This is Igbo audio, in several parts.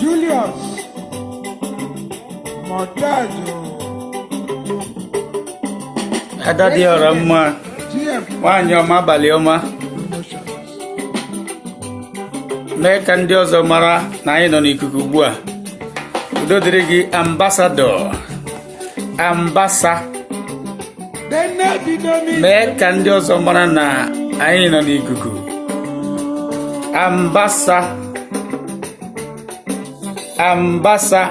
Julius Mọdazụ ada dị ọra mma GM nwaanyị ọma abalị ọma mee ka ndị ọzọ mara na anyị nọ n'ikuku ugbu a udo dịrị gị ambassador ambasa mee ka ndị ọzọ mara na anyị nọ n'ikuku ambasa ambasa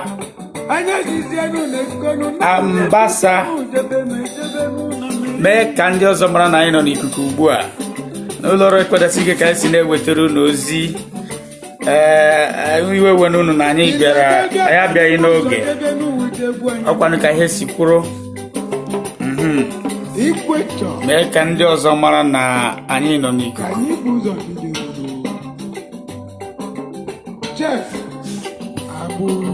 ambasa mee ka ndị ọzọ mara na anyị nọ n'ikuku ugbu a n'ụlọ ọrụ ekpedasi ike ka anyị si na-ewetara unu ozi ee iwe ewena unu na anyị bịara anyị abịaghị n'oge ọ kwanụ ka ihe si kwụrụ mhm. mee ka ndị ọzọ mara na anyị nọ n'ikuku Chief, abụrụ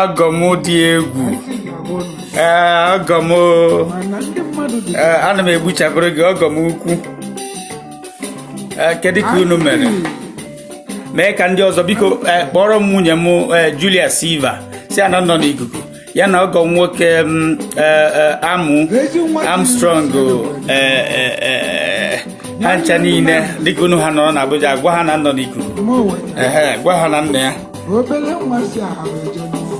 ọgọ m dị egwu ee ọgọ m ee ana m egbuchapụrụ gị ọgọ m ukwu ee kedu ka unu mere mee ka ndị ọzọ biko ee kpọọrọ m nwunye m ee Julia Silva sị ya na m nọ n'ikuku ya na ọgọ nwoke m ee ee Am Armstrong ee ee ee ha ncha niile dịka unu ha nọrọ n'Abuja gwa ha na m nọ n'ikuku ehe gwa ha na nna ya obere nwa si ahụ eje n'ụwa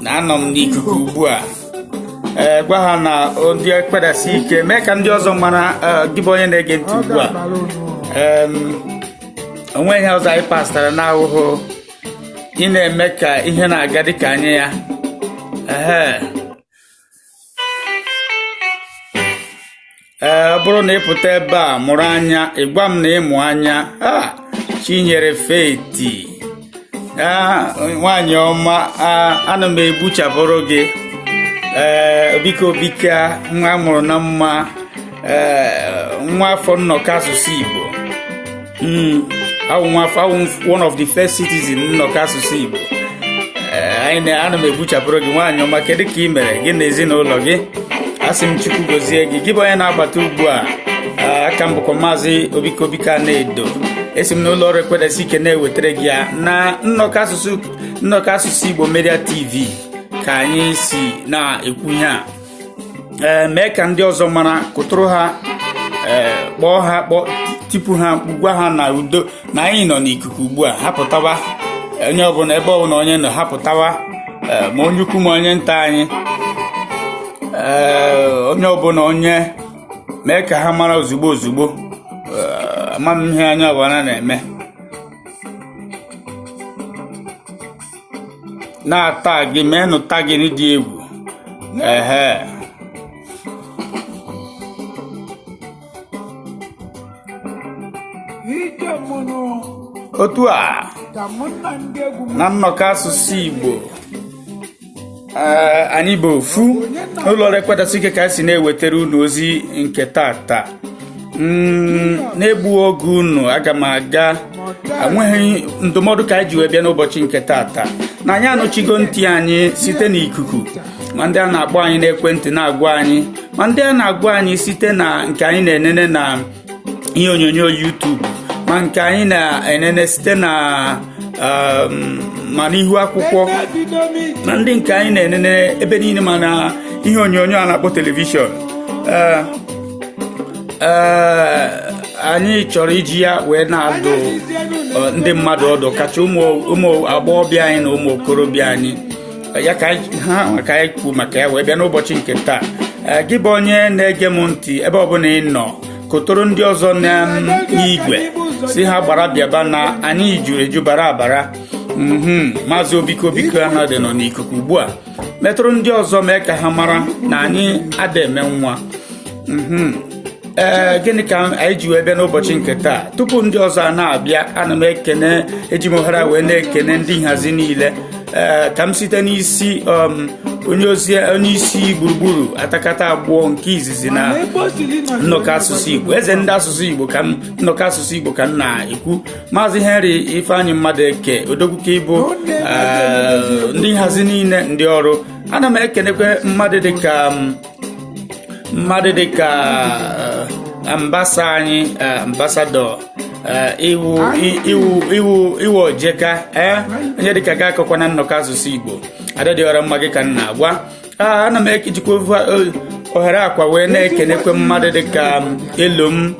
na anọ m n'ikuku ugbu a ee gwa ha na o- ndị Ekwedasi ike mee ka ndị ọzọ mara ee, gị bụ onye na-ege ntị ọ ugbu a ga-abara unu Em, o nwe ihe ọzọ anyị pastara n'ahụhụ ị na-eme ka ihe na-aga dịka anya ya ehe ee ọ bụrụ na ị pụta ebe a mụrụ anya ị gwa m na ị mụ anya aha Chinyere Faith nwaanyị ọma ana m egbuchapụrụ gị ee Obika Obika nwa a mụrụ na mma ee nwa afọ nnọkọ asụsụ Igbo Hmm, awụ nwa afọ awụ m one of the first citizen nnọkọ asụsụ Igbo Eh, anyị na ana m egbuchapụrụ gị nwaanyị ọma kedu ka ị mere gị na ezinụlọ gị asị m Chukwu gozie gị gị bụ onye na-abata ugbu a Ah, a ka m bụkwa maazị Obika Obika na-edo esi m n'ụlọ ọrụ Ekwedasi ike na-ewetara gị ya na nnọkọ asụsụ nnọkọ asụsụ Igbo Media TV ka anyị si na-ekwu ihe a ee mee ka ndị ọzọ mara kụtụrụ ha ee kpọọ ha kpọ tipu ha mkpu gwa ha na udo na anyị nọ n'ikuku ugbu a ha pụtawa onye ọbụla ebe ọbụla onye nọ ha pụtawa ee ma onye ukwu ma onye nta anyị ee onye ọbụla onye mee ka ha mara ozugbo ozugbo ee ama m ihe anya ọbụla na-eme na-atagị meenụ tagging dị egwu ehe ike mụnụ otu a ka mụ na ndị egwu m na nnọkọ asụsụ Igbo anyị bụ ofu n'ụlọ ọrụ ekwedasị ike ka anyị si na-ewetara unu ozi nke tata mm, na-egbu oge unu aga m aga enweghị ndụmọdụ ka anyị ji wee bịa n'ụbọchị nke tata na anyị anụchigo ntị anyị site n'ikuku ma ndị a na-akpọ anyị n'ekwentị na-agwa anyị ma ndị a na-agwa anyị site na nke anyị na-enene na ihe onyonyo YouTube ma nke anyị na-enene site na um, ma n'ihu akwụkwọ ma ndị nke anyị na-enene ebe niile ma na ihe onyonyo a na-akpọ telivishọn uh, uh, anyị chọrọ iji ya wee na-adụ ndị mmadụ ọdụ kacha ụmụ agbọghọbịa anyị na ụmụ okorobịa anyị ya ka anyị- ha nwa ka anyị kwuo maka ya wee bịa n'ụbọchị nke taa Ee, gị bụ onye na-ege m ntị ebe ọbụla ị nọ kụtụrụ ndị ọzọ na m, n'igwe sị ha gbara bịaba na anyị juru eju bara abara Mhm, maazị obiko biko anọdụ nọ n'ikuku ugbu a metụrụ ndị ọzọ mee ka ha mara na anyị ada eme nwa mhm. ee gịnị ka anyị ji wee bịa n'ụbọchị nke taa tupu ndị ọzọ a na-abịa ana m ekene eji m ohere wee na-ekene ndị nhazi niile ee ka m site n'isi um, onye ozi onye isi gburugburu atakata agbọọ nke izizi na nnọkọ asụsụ igbo eze ndị asụsụ igbo ka m nnọkọ asụsụ igbo ka m na-ekwu maazị henry ifeanyị mmadụeke odogwu ka ị bụ ndị nhazi niile ndị ọrụ ana m ekenekwe mmadụ dịka um, mmadụ dịka ambasa anyị ambasadọ iwu ojeka ee onye dịka ga akọkwa na nnọkọ asụsụ igbo ada dị ọra mma gị ka m na-agwa ana m ejikwa ohere a kwa wee na-ekenekwe mmadụ dịka elom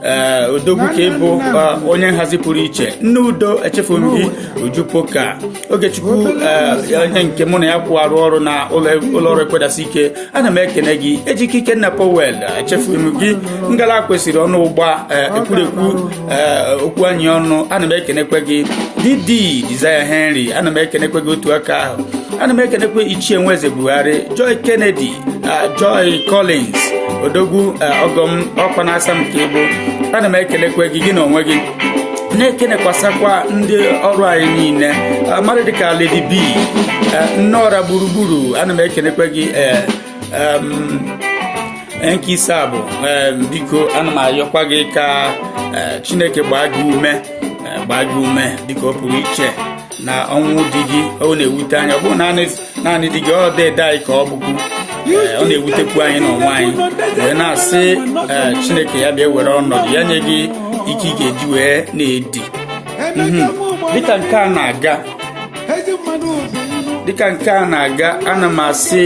ee eh, odogwu ka ị bụ eh, onye nhazi pụrụ iche nne udo echefughị m gị uju poka ogechukwu eh, onye nke mụ na ya kwụ arụ ọrụ na ụlọ ọrụ ekwedasị ike ana m ekene gị ejike ikenna powel echefughị m gị ngala kwesịrị ọnụ ụgba ekwurekwu okwu anyị ọnụ ana m ekenekwe gị dede sir henry ana m ekenekwe gị otu aka ahụ ana m ekenekwe ichie nweze buhari joy kennedy Joy Collins odogwu ọgọ m ọkwa na-asa m ka ịbụ ana m ekelekwa gị gị na onwe gị na-ekenekwasakwa ndị ọrụ anyị niile mmadụ dịka Lady B nneọra gburugburu ana m ekelekwa gị nke ise a bụ biko ana m ayọkwa gị ka Chineke gbaa gị ume gbaa gị ume dịka ọ pụrụ iche na ọnwụ di gị ọ na-ewute anyị ọ bụghị naanị di gị ọ dede anyị ka ọ bụkwu ọ na-ewutekwu anyị n'onwe anyị wee na-asị chineke ya bịa were ọnọdụ ya nye gị ike ị ga-eji wee na-edi mhm. dịka nke a na-aga dịka nke a na-aga ana m asị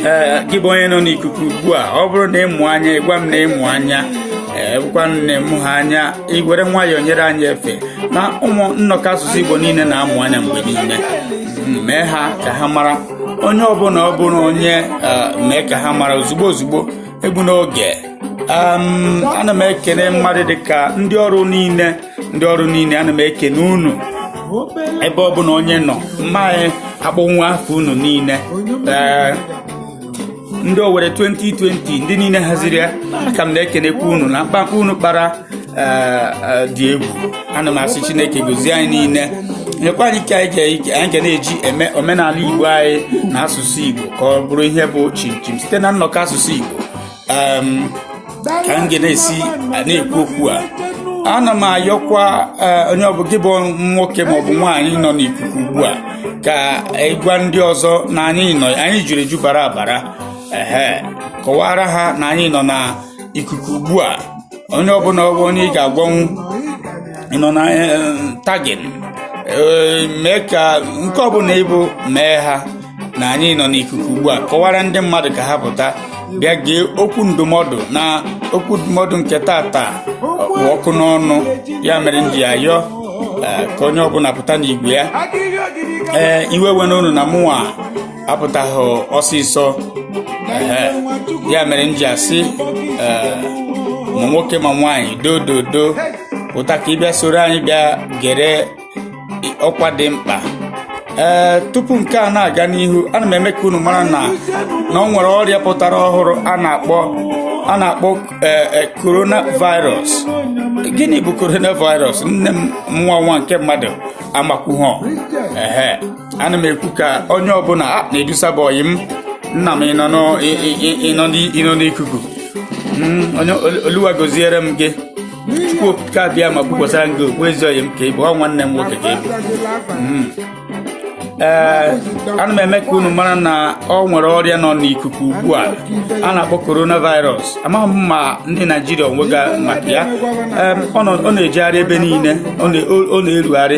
ee gị bụ onye nọ n'ikuku ugbu a ọ bụrụ na ị mụ anya ị gwa m na ị mụ anya ee bụkwa nne m ha anya i were nwayọọ nyere anyị efe na ụmụ nnọkọ asụsụ Igbo niile na-amụ anya mgbe niile mee ha ka ha mara onye ọbụla ọ bụrụ onye eh, mee ka ha mara ozugbo ozugbo egbuna oge ana m ekene mmadụ dịka ndị ọrụ niile ndị ọrụ niile ana m ekene unu ebe ọbụla onye nọ mmaghị akpọnwu afa unu niile eh, ndị owere 2020 ndị niile haziri ya ka m na-ekenekwa unu na mkpamkpa unu kpara eh, eh, dị egwu ana m asị chineke gozie anyị niile nyekwa anyị ike anyị ga- ike anyị ga na-eji eme omenala igbo anyị na asụsụ igbo ka ọ bụrụ ihe bụ chimchim site na nnọkọ asụsụ igbo ka m ga na-esi na-ekwu okwu a ana m ayọkwa eh, onye ọ bụ gị bụ nwoke maọbụ nwaanyị nọ n'ikuku ugbu a ka ị gwa ndị ọzọ na anyị nọ anyị juru eju bara abara ehe kọwara ha na anyị nọ na ikuku ugbu a onye ọbụla ọ bụ onye ị ga-agwanwu ị nọ na eh, tagging Eh, mee ka nke ọbụla ị bụ mee ha na anyị nọ n'ikuku ugbu a kọwara ndị mmadụ ka ha pụta bịa gee okwu ndụmọdụ na okwu ndụmọdụ nke taata kpụ ọkụ n'ọnụ ya mere m ji ayọ eh, ka onye ọbụla pụta n'igwe ya ee iwe ewena unu na mụnwa apụtaghị ọsịsọ ehe ya mere m ji asị ee, ma nwoke ma nwaanyị dododo pụta ka ị bịa soro anyị bịa gere ọkwa dị mkpa ee tupu nke a na-aga n'ihu ana m eme ka unu mara na na ọ nwere ọrịa pụtara ọhụrụ a na-akpọ a na-akpọ ee, ee, coronavirus gịnị bụ coronavirus nne m nwa nwa nke mmadụ amakwuhọ ehe ana m ekwu ka onye ọbụla a na-edusa bụ ọyị m nna m ịnọ n'ọ- ị- ị- ị- ịnọ n'i- ịnọ n'ikuku Mm, onye olu- oluwa goziere m gị chukwu okike abịama kwukwasara m gị okwu ezi ọyị m ka ị bụ ọ nwanne m nwoke ka ị bụ ee ana m eme ka unu mara na ọ nwere ọrịa nọ n'ikuku ugbu a a na-akpọ coronavirus amaghị m ma ndị naijiria ọ nụgo maka ya Em, ọ nọ- ọ na-ejegharị ebe niile ọ na- ọ na-erugharị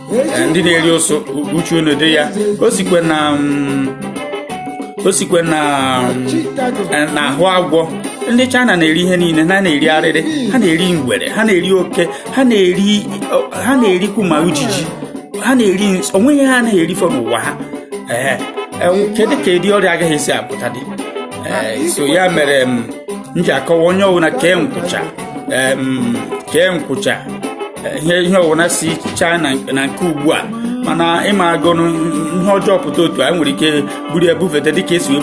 eh, ndị na-eri ụsụ uchu unu dị ya o sikwe na mm, o sikwe na mm, eh, na ahụ agwọ ndị China na-eri ihe niile ha na-eri arịrị ha na-eri ngwere ha na-eri oke ha na-eri oh, ha na-erikwu ma ujiji ha na-eri onweghị ihe ha anaghị erifọ n'ụwa ha ee eh, kedu ka ụdị ọrịa agaghị esi apụta dị so ya mere mm, m ji akọwa onye ọbụla kee nkwụcha kee nkwụcha ihe ihe ọwụna si china na nke ugbu a mana ịmago ihe ọjọọ pụta otu onye nwere ike buru ya bufete dịka esi wee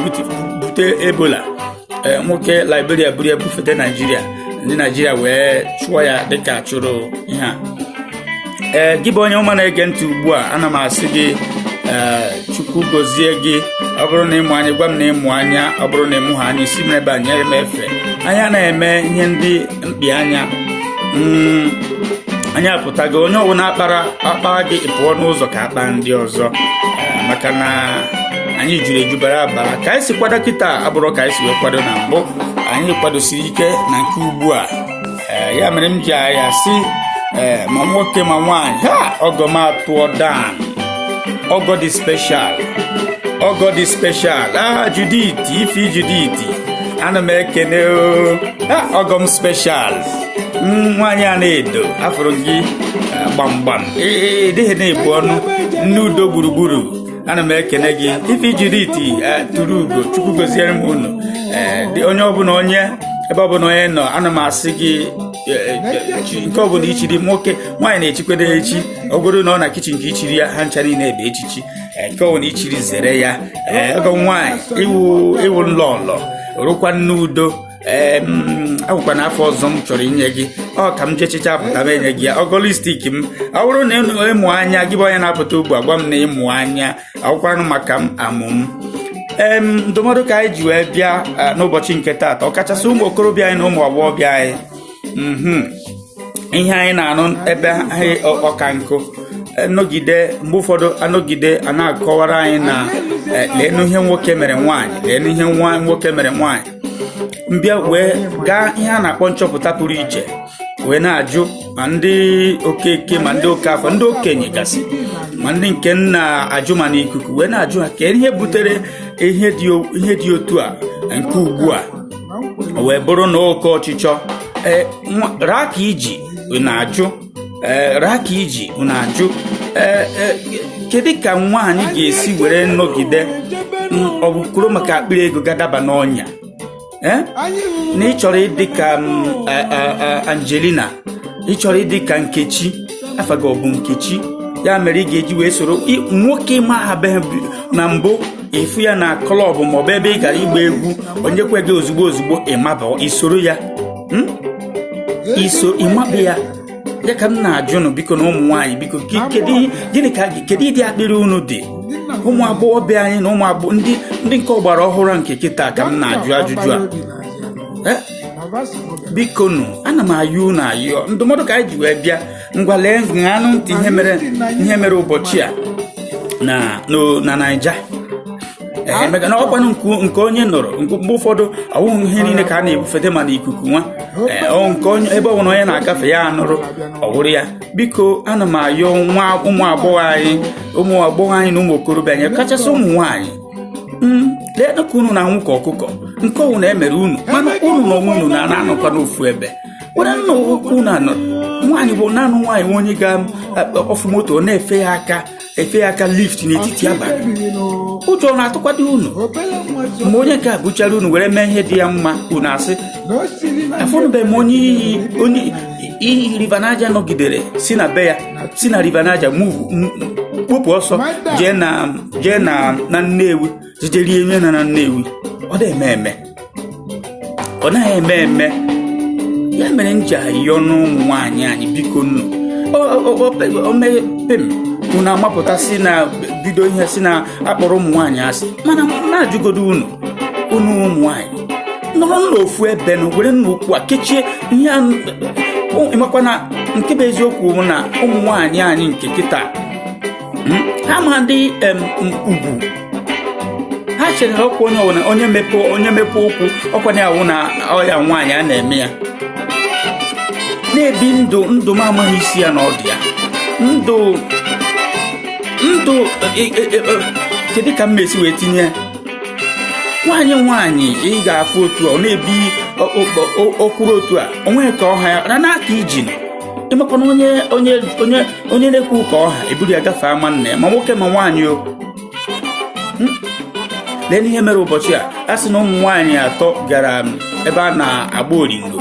bute ebola eh, nwoke liberia buru ya bufete naijiria ndị naijiria wee chụọ ya dịka a chụrụ ihe a ee eh, gị bụ onye ọma na-ege ntị ugbu a ana m asị gị ee eh, chukwu gozie gị ọ bụrụ na ịmụ anya gwa m na ịmụ anya ọ bụrụ na ịmụhọ anya sị m ebe a nyere m ife anya na-eme ihe ndị mkpi anya mm, anyị apụtago onye ọwụna a kpara a kpaa gị ị pụọ n'ụzọ ka a kpaa ndị ọzọ eh, maka na anyị juru eju bara abara ka anyị si kwado kịtaa abụrọ ka anyị si wee kwado na mbụ anyị kwadosiri ike na nke ugbu a eh, ya mere m ji asị eh, ma nwoke ma nwaanyị ha ọgọ m atụọ down ọgọ dị special ọgọ dị special aha Judith Ify Judith ana m ekene ọgọ m special nwaanyị Anaedo afụrụ gị gbamgbam ịdịghị na-ebu ọnụ nne udo gburugburu ana m ekene gị Ify Judith tụrụ ugo chukwu goziere m unu onye ọbụla onye ebe ọbụla onye nọ ana m asị gị nke ọbụla ichiri nwoke nwaanyị na-echikwede echi ọ bụrụ na ọ na kichin ka ichiri ya ha ncha niile bụ echichi nke ọbụla ichiri zere ya ee ọgọ nwaanyị ịwụ ịwụ lọlọ wụrụkwa nne udo ee ọ wụkwa na afa ọzọ m chọrọ inye gị ọ ka m je chechaa pụta m enye gị ya ọgọlistik m ọ bụrụ na ịnụ ịmụ anya gị bụ onye na-apụta ugbu a gwa m na ịmụ anya ọ wụkwanụ maka m amụ m em ndụmọdụ ka anyị ji wee bịa ah, n'ụbọchị nke taata ọkachasị ụmụ okorobịa anyị na ụmụ agbọghọbịa anyị mhm ihe anyị na-anụ ebe anyị ọka nkụ anọgide mgbe ụfọdụ anọgide a na-akọwara anyị na eh, leenu ihe nwoke mere nwaanyị leenu ihe nwa nwoke mere nwaanyị m bịa wee gaa ihe a na-akpọ nchọpụta pụrụ iche wee na-ajụ ma ndị okeke ma ndị okeafọ ndị okenye gasị ma ndị nke na-ajụ ma n'ikuku wee na-ajụ ha kee ihe butere ihe dị otu a nke ugbu a o wee bụrụ na oke ọchịchọ ee nwa- raa ka iji na-ajụ ee raa ka iji na-ajụ ee ee, kedu ka nwaanyị ga-esi were nọgide mm, ọ bụ kwuru maka akpịrị ego gaa daba n'ọnya ee na ị chọrọ ịdị ka mm, a- a- a- angelina ị chọrọ ịdị ka nkechi afa gị ọ bụ nkechi ya mere ị ga-eji wee soro ị- nwoke ị na-ahụbeghị na mbụ ị fụ ya na klọb maọbụ ebe ị gara ịgba egwu o nyekwa gị ozugbo ozugbo ị maba i soro ya Hmm? i so ị maba ya ya ka m na-ajụ nụ biko nụ ụmụ nwaanyị biko ke- kedu ihe- gịnị ka gị kedu ụdị akpịrị unu dị ụmụ agbọghọbịa anyị na ụmụ agbọghọ ndị ndị nke ọgbara ọhụrụ a nke kịta ka m na-ajụ ajụjụ a Eh? biko nụ ana m ayọ unu ayọ ndụmọdụ ka anyị ji wee bịa ngwa lee ṅanụ ntị ihe mere ihe mere ụbọchị a na no- na naija ee maka na ọkwanụ nke nke onye nụrụ nke mgbe ụfọdụ ọ wụghị ihe niile ka a na-ebufete ma na ikuku nwa ee ọ nke onye ebe ọ bụla onye na-agafe ya anụrụ ọ wụrụ ya biko ana m ayọ nwa ụmụ agbọghọ anyị ụmụ agbọghọ anyị na ụmụ okorobịa anyị kachasị ụmụ nwaanyị Mm, leenụ ka unu na-anwụ ka ọkụkọ nke ọ wụ na e mere unu mana unu na onwe unu na-anọkwa n'ofu ebe were nna unu anọ nwaanyị bụ naanị nwaanyị nwe onye ga-afụ moto na-efe ya aka efe ya aka lift n'etiti abalị ụjọ na-atụkwado unu mgbe onye nke a gbuchara unu were mee ihe dị ya mma unu asị afụnụbeghị m onye iyi river niger nọgidere si na be ya si na river niger move kpọpụ ọsọ jee na nnewi jije rie nri na na Nnewi ọ dị eme eme ọ naghị eme eme ya mere m ji ayọ n'ụmụ nwaanyị anyị biko nụ o mee pem unu amapụta sị na bido ihe sị na a kpọrọ ụmụ nwaanyị asị mana na-ajụgodo unu unu ụmụ nwaanyị nọrọ n'ofu ebe na were n'okwu a kechie ihe ị makwa na nke bụ eziokwu bụ na ụmụ nwaanyị anyị nke kịta ha ma ndị ugwu ha chere na ọkwa onye ọwụna onye mepe onye mepe ụkwụ ọ kwa na ọ wụ na ọ ya nwaanyị a na-eme ya na-ebi ndụ ndụ m amaghị isi ya na ọdụ ya ndụ ndụ e, e, e, kedu ka m mesi wee tinye ya nwaanyị nwaanyị ị ga-afụ otu ọ na-ebi okwuru otu a o nweghị ka ọ ha ya na n'aka iji ị makwa na onye onye onye onye na-ekwu ụka ọha eburu ya gafee ama nna ya ma nwoke ma nwaanyị o hmm? lee n'ihe mere ụbọchị a a sị na ụmụ nwaanyị atọ gara um, ebe a na-agba oringo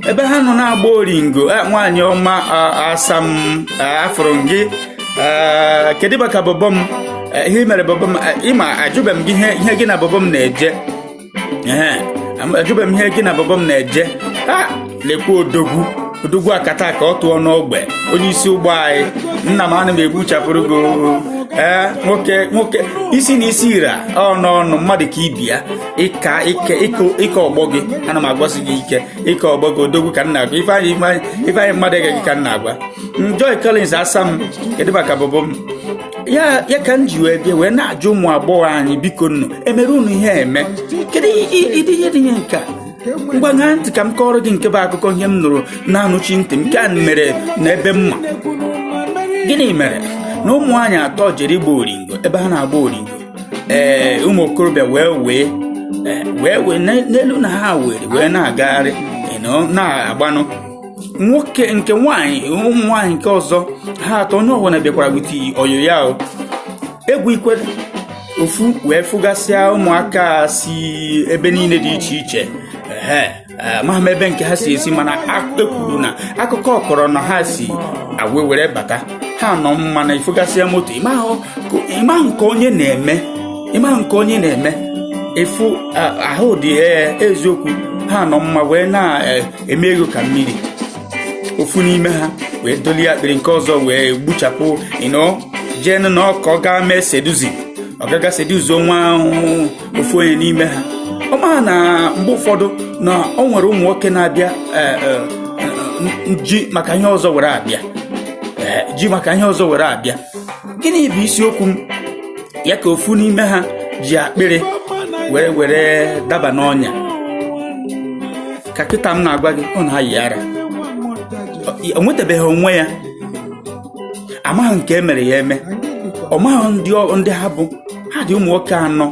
ebe ha nọ na-agba oringo eh, nwaanyị ọma asa m afụrụ m gị kedu maka bọbọ m eh, ihe mere bọbọ m ị ma ajụbeghị m gị ihe gị na bọbọ m na-eje ee ajụbeghị m ihe gị na bọbọ m na-eje a lekwa odogwu odogwu akataka ọ tụọ n'ogbe onye isi ụgbọ anyị nna m ana m egbuchapụrụ gị ee nwoke nwoke isi na isi ịra ọ n'ọnụ mmadụ ka ibe ya ị ka ike ị ka ọgbọ gị ana m agwasị gị ike ị ka ọgbọ gị odogwu ka m na-agwa Ifeanyị Ifeanyị mmadụ gị ka m na-agwa Joy Collins asa m kedụ maka bọbọ m ya ya ka m ji wee bịa wee na-ajụ ụmụ agbọghọ anyị bikonụ e mere unu ihe eme kedu ụdị ihe dị ihe nke a ngwa ṅaa ntị ka m kọọrọ gị nke bụ akụkọ ihe m nụrụ na-anụchi ntị m nke a mere n'ebe mma gịnị mere na ụmụ nwaanyị atọ jere ịgba oringo ebe ha na-agba oringo ee ụmụ okorobịa wee wee e, wee wee n'elu na ha were wee na-agagharị e, na-agbanụ nwoke nke nwaanyị ụmụ nwaanyị nke ọzọ ha atọ onye ọbụla bịakwara with oyo ya o egwu ikwe ofu wee fụgasịa ụmụaka si ebe niile dị iche iche ehe Eh, ma ma ebe nke ha si esi mana e kwuru na akụkọ kọrọ na ha si agwa were bata ha nọ mma na ị fụgasịa moto ị ma nke onye na-eme ị ma nke onye na-eme efu ahụ dị eh, eziokwu ha nọ mma wee na eh, emee ego ka mmiri ofu n'ime ha wee dọlie akpịrị nke ọzọ wee gbuchapụ ịnọ jee nụ na ọka ọ gaa mee seduce ọ ga-aga seduce nwa ahụ ofu onye n'ime ha ọ ma na mgbe ụfọdụ na o nwere ụmụ nwoke na-abịa eh, eh, n- ji maka ihe ọzọ were abịa Eh, ji maka ihe ọzọ were abịa gịnị bụ isiokwu m ya ka ofu n'ime ha ji akpịrị were were daba n'ọnya ka kịta m na-agwa gị ọ na-ayị ara o nwetabeghị onwe ya amaghị nke e mere ya eme ọ maghị ndị ọ- ndị ha bụ ha dị ụmụ nwoke anọ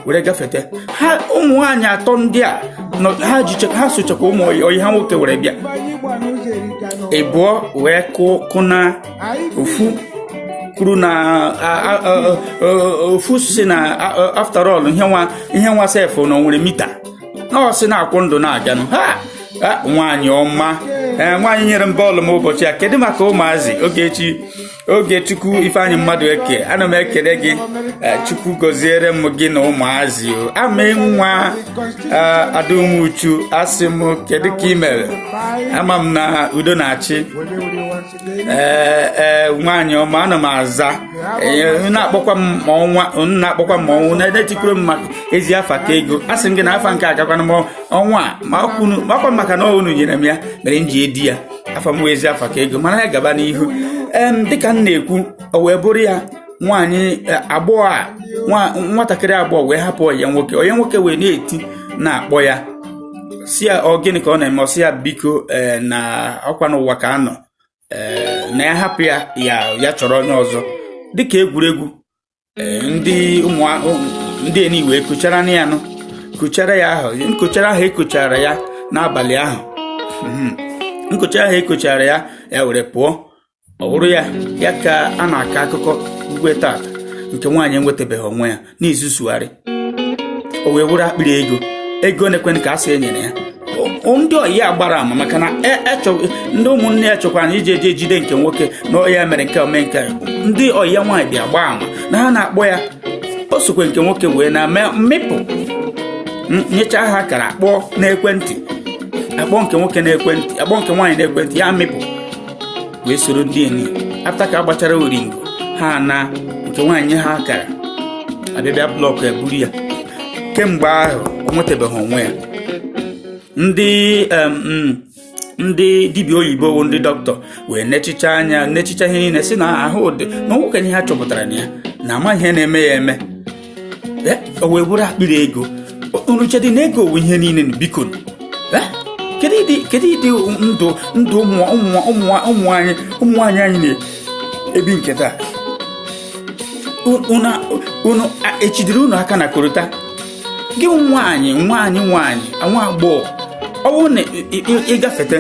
were gafete ha ụmụ nwaanyị atọ ndị a nọ ha jiche ha sochakwa ụmụ ọyị ọyị ha nwoke were bịa ịbụọ wee kụ kụna ofu kwuru na a- a- a- a- ofu sị na a- a- after all ihe nwa ihe nwa sef na o nwere mita nọọsụ na-akwụ ndụ na-aganụ ha nwaanyị ọma ee eh, nwaanyị nyere m bọọlụ m ụbọchị a kedu maka ụmụazị Ogechi Ogechukwu Ifeanyị Madueke ana m ekele gị eh, Chukwu gọziere m gị na ụmụazị o ama nwa eh, Ada Umuchu asị m kedu ka ị mere ama m na udo na-achị ee ee nwaanyị ọma ana m aza Ee, na-akpọkwa m ma ọnwa na-akpọkwa m ma ọnwa na-edetikuru m maka ezi afa ka ego a sị m gị na afa nke agakwana m ọnwa a ma kwunu- makwa m maka na unu nyere m ya mere m ji edi ya afa m wụ ezi afa ka ego mana ya gaba n'ihu em dịka m na-ekwu o wee bụrụ ya nwaanyị agbọghọ a nwatakịrị agbọghọ wee hapụ onye nwoke onye nwoke wee na-eti na-akpọ ya sị ya ọ gịnị ka ọ na-eme ọ sị ya biko eh, na ọ kwa n'ụwa ka a nọ eh, na ya hapụ ya ya chọrọ onye ọzọ dịka egwuregwu eh, ndị ụmụ ndị enyi wee kochara na ya nụ kochara ya ahụ nkochara ahụ e kochara ya n'abalị ahụ hmm. nkochara ahụ e kochara ya ya were pụọ ọ bụrụ ya ya ka a na-akọ akụkọ igwe taa nke nwaanyị enwetabeghị onwe ya n'izu sugharị o wee wụrụ akpịrị ego ego one kwanụ ka a sị e nyere ya ndị ọyị ya gbara ama maka na e, e ndị ụmụnne ya chọkwara na iji eji ejide nke nwoke na ọ ya mere nke o me nke ndị ọyị ya nwaanyị bịa gbaa ama na ha na-akpọ ya o sokwe nke nwoke wee na mee mmịpụ nyecha ha kara akpọ n'ekwentị akpọ nke nwoke n'ekwentị akpọ nke nwaanyị n'ekwentị ya mịpụ wee soro ndị enyi after ka a gbachara oringo ha na nke nwaanyị ha gara abịabịa blọkụ e buru ya kemgbe ahụ o nwetabeghị onwe ya ndị em, mm, ndị dibịa oyibo bụ ndị dọkịta wee nechicha anya nechicha ihe niile sị na ahụ dị na o nweghịkwa ihe ha chọpụtara na ya na amaghị ihe na-eme ya eme o wee bụrụ akpịrị ego unu chedị na ego wụ ihe niile biko kedu ụdị ndụ ndụ ụmụ nwaanyị anyị na-ebi nke taa unu echidiri unu aka na korota gị nwaanyị nwaanyị nwaanyị nwa agbọghọ ọ bụrụ na ị gafete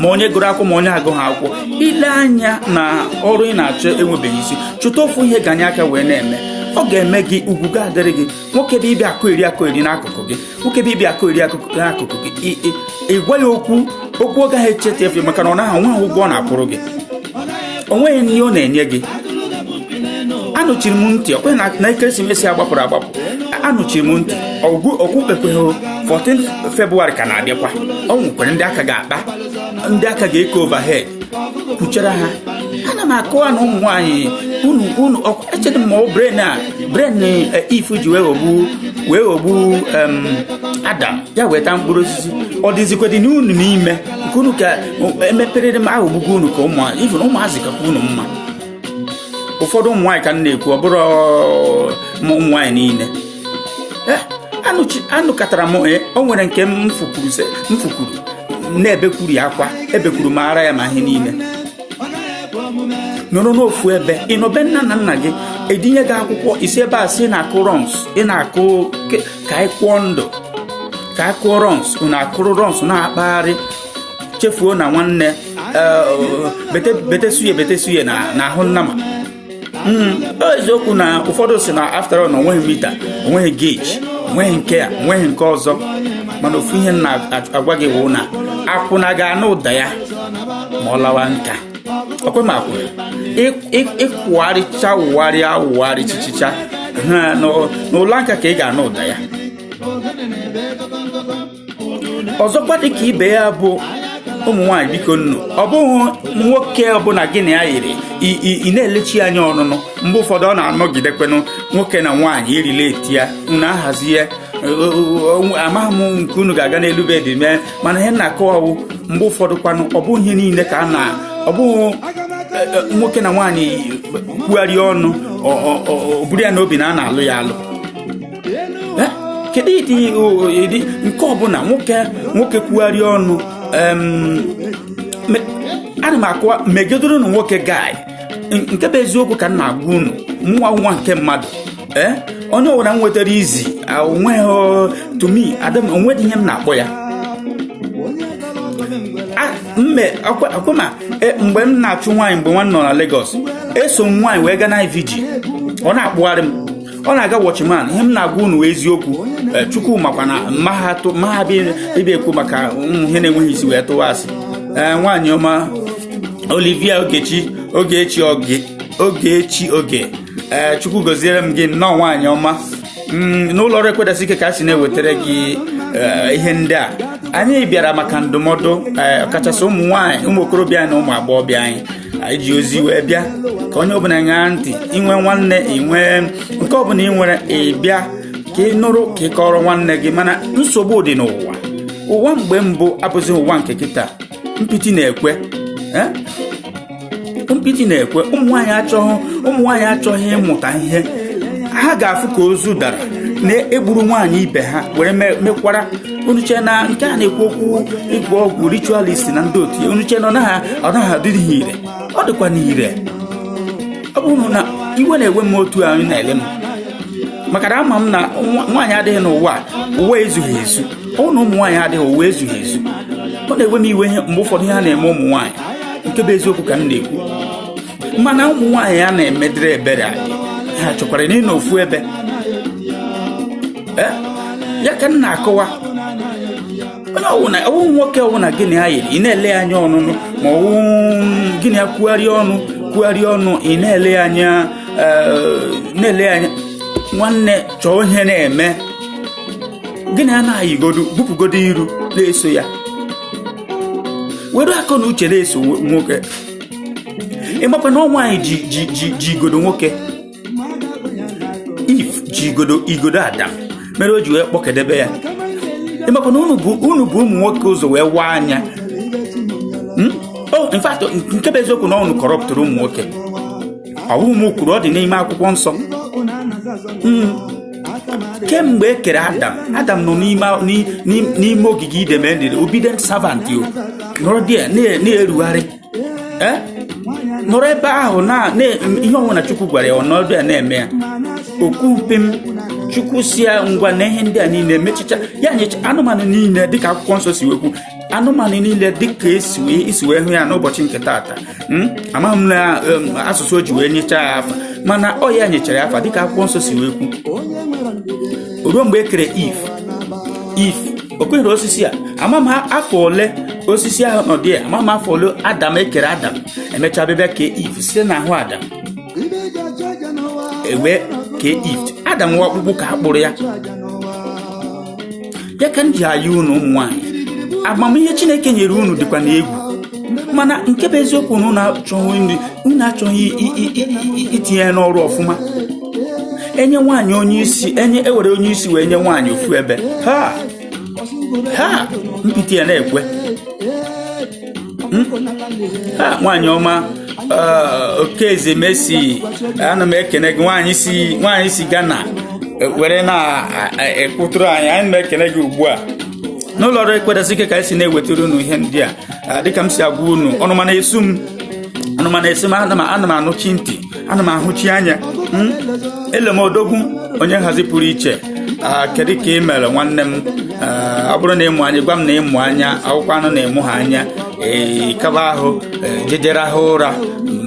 ma onye gụrụ akwụkwọ ma onye agụghị akwụkwọ ile anya na ọrụ ị na-achọ enwebeghị isi chụta ofu ihe ganye aka wee na-eme ọ ga-eme gị ugwu ga-adịrị gị nwoke bu ibi akụ iri akụ iri n'akụkụ gị nwoke bu ibi akụ iri akụkụ n'akụkụ gị ị gwa ya okwu okwu ọ gaghị echeta efe maka na ọ naghị enwe ụgwọ ọ na-akwụrụ gị o nweghị nri ọ na-enye gị anụchiri m ntị ọkwe na ekeresimesi a gbapụrụ agbapụ anụchiri m ntị ọgwụ okpukpekweghị 14 febụwarị ka na-abịakwa o nwekwere ndị aka ga-akpa ndị aka ga-eke overhead kwuchara ha ana m akọwa na ụmụ nwaanyị unu unu echedị m ma ọ brain a brain eh, Eve ji wee ghọgbu wee ghọgbu Adam ya weta mkpụrụ osisi ọ dịzikwa dị n'unu n'ime nke unu ka emeperere m ahụ ogbugbu unu ka ụmụazị kakwa unu mma ụfọdụ ụmụ nwaanyị ka m na-ekwu ọ bụrọ ụmụ nwaanyị niile eh, anụkatara m eh, o nwere nke m fụkwuru na-ebekwuru ya akwa ebekwuru m ara ya ma ihe niile nọrọ n'ofu ebe ị nọ be nne na nna gị edunye gị akwụkwọ ị si ebe a si na-akụ runs ị na-akụ ka anyị kwụọ ndụ ka a kụọ runs unu akụrụ runs na-akpagharị chefuo na nwanne betesuye betesuye n'ahụ nnama hmm, eziokwu na ụfọdụ sị na after all na o nweghị meter o nweghị gauge o nweghị nke a o nweghị nke ọzọ mana ofu ihe m na-agwa gị wụ na akwụna ga-anụ ụda ya ma ọ lawa nka ọkwe ma akwụna ị kwụgharịcha wụgharịa wụgharị chichicha n'ụla nka ka ị ga-anụ ụda ya ọzọkwa dị ka ibe ya bụ ụmụ nwaanyị bikonụ ọ bụghị nwoke ọbụla gị na ya yiri ị na-elechi anya ọnụnụ mgbe ụfọdụ ọ na-anọgidekwenụ nwoke na nwaanyị irila eti ya unu ahazi ya amaghị m nke unu ga-aga n'elu bed mee mana ihe m na-akọwa wụ mgbe ụfọdụ kwanụ ọ bụghị ihe niile ka a na ọ bụghị e, e, nwoke na nwaanyị kwụgharịa ọnụ o buru ya n'obi na a na-alụ ya alụ Eh, kedu ụdị ụdị nke ọbụla nwoke nwoke kwụgharị ọnụ ana m akụwa megidoro na nwoke guy nke bụ eziokwu ka m na-agwa unu mụwa wụ nwa nke mmadụ eh, onye ọbụla m nwetara easy o nweghị to me adam o nweghị ihe m na-akpọ ya mme akwama eh, mgbe m na-achụ nwaanyị mgbe mụwa nọ na Lagos eso m nwaanyị wee gaa na vigil ọ na-akpụgharị m ọ na-aga watchman ihe m na-agwa unu eziokwu eh, chukwu makwa na anaghị m abịa ekwu maka ụmụ ihe na-enweghị isi wee tụwa asị eh, nwaanyị ọma olivia ogechi ogechi oge ogechi oge eh, chukwu gọziere m gị nnọọ nwaanyị ọma mm, n'ụlọ ọrụ ekwe dasị ike ka a si na-ewetara gị ihe ndị a anyị bịara maka ndụmọdụ ọkachasị ụmụ nwaanyị ụmụ okorobịa na ụmụ agbọghọbịa anyị anyị ji ozi wee bịa ka onye ọbụla ṅaa ntị i nwee nwanne i nwee nke ọbụla i nwere ị bịa ka ị nụrụ ka ị kọọrọ nwanne gị mana nsogbu dị n'ụwa ụwa mgbe mbụ abụzi ụwa nke kịta mpịtị na-ekwe eh? mpịtị na-ekwe ụmụnwaanyị achọghị ụmụnwaanyị achọghị ịmụta ihe ha ga-afụ ka ozu dara na e gburu nwaanyị ibe ha were mekwara unu chee na nke a na-ekwu okwu ịgwọ ọgwụ ritualist na ndị otu ya unu chee na ọ naghị ọ naghị adị ire ọ dịkwanụ ire ọ bụrụ na iwe na-ewe m otu a unu na-ele m maka na ama m na nwa- nwaanyị adịghị n'ụwa a, ụwa ezughị ezu ọ bụrụ na ụmụ nwaanyị adịghị ụwa ezughị ezu ọ na-ewe m iwe ihe mgbe ụfọdụ ihe a na-eme ụmụ nwaanyị nke bụ eziokwu ka m na-ekwu mana ụmụ nwaanyị a na-emedịrị ebere adịghị achọkwara na ịnọ ofu ebe eh? ya ka m na-akọwa onye ọwụna ọwụ nwoke ọwụna gị na ya yiri ị na-ele ya anya ọnụnụ ma ọwụ gịnị ya kwugharịa ọnụ kwugharịa ọnụ ị na-ele ya anya eh, na-ele ya anya nwanne chọọ ihe na-eme gị na ya na-ayịgodu bupụgodo iru na-eso ya were akọ na uche na-eso nwoke ị makwa na ọ nwaanyị ji ji ji ji igodo nwoke eve ji igodo igodo adam mere o ji wee kpọkedebe ya ị makwa na unu bu unu bu ụmụ nwoke ụzọ wee waa anya Hmm? Oh, in fact, nke bụ eziokwu na ọwụ unu corruptụrụ ụmụ nwoke ọwụ m kwuru ọ dị n'ime akwụkwọ nsọ kemgbe e kere adam adam nọ n'ime ogige eden a very obedient servant ọ nọrọdị na-erugharị eh? nọrọ ebe ahụ na ihe ọwụna chukwu gwara ya ọ nọdụ ya na-eme ya o kwughị pim chukwu sị ya ngwa na ihe ndị a niile emechicha ya nyecha anụmanụ niile dịka akwụkwọ nsọ si wee kwu anụmanụ niile dịka e si wee hụ ya n'ụbọchị nke taata hmm? amaghị m na um, asụsụ o ji wee nyechaa ya afa mana ọ ya nyechara ya afa dịka akwụkwọ nsọ si wee kwu ruo mgbe e kere eve eve o kwenyere osisi a ama m afọ ole osisi ahụ nọ dị ya ama m afọ ole adam e kere adam e mechaa bịa kee eve site n'ahụ adam e wee kee eve adam nwa ọkpụkpụ ka a kpụrụ ya ya ka m ji ayọ unu ụmụ nwaanyị amamihe chineke nyere unu dịkwa na egwu mana nke bụ eziokwu na unu achọghị nri unu achọghị itinye ya n'ọrụ ọfụma enye nwaanyị onye isi enye ewere onye isi wee nye nwaanyị ofu ebe ha ha mpịtị ya na-ekwe hmm? nwaanyị ọma uh, Okeze Mercy ana m ekene gị nwaanyị si nwaanyị si Ghana e, were na-ekwutụrụ e, e, anyị ana m ekene gị ugbu a n'ụlọ ọrụ ekwetasị ike ka anyị si na-ewetara unu ihe ndị a dịka m si agwa unu ọnụma na-esu m ọnụma na-esu m ana m anụchi ntị ana m ahụchi anya hmm? ele m odogwu onye nhazi pụrụ iche ah, kedu ka ị mere nwanne m ah, ọ bụrụ na ị mụ anya gwa m na ị mụ anya ọ bụkwanụ na ị mụha anya ee eh, kaba ahụ eh, je jee rahụ ụra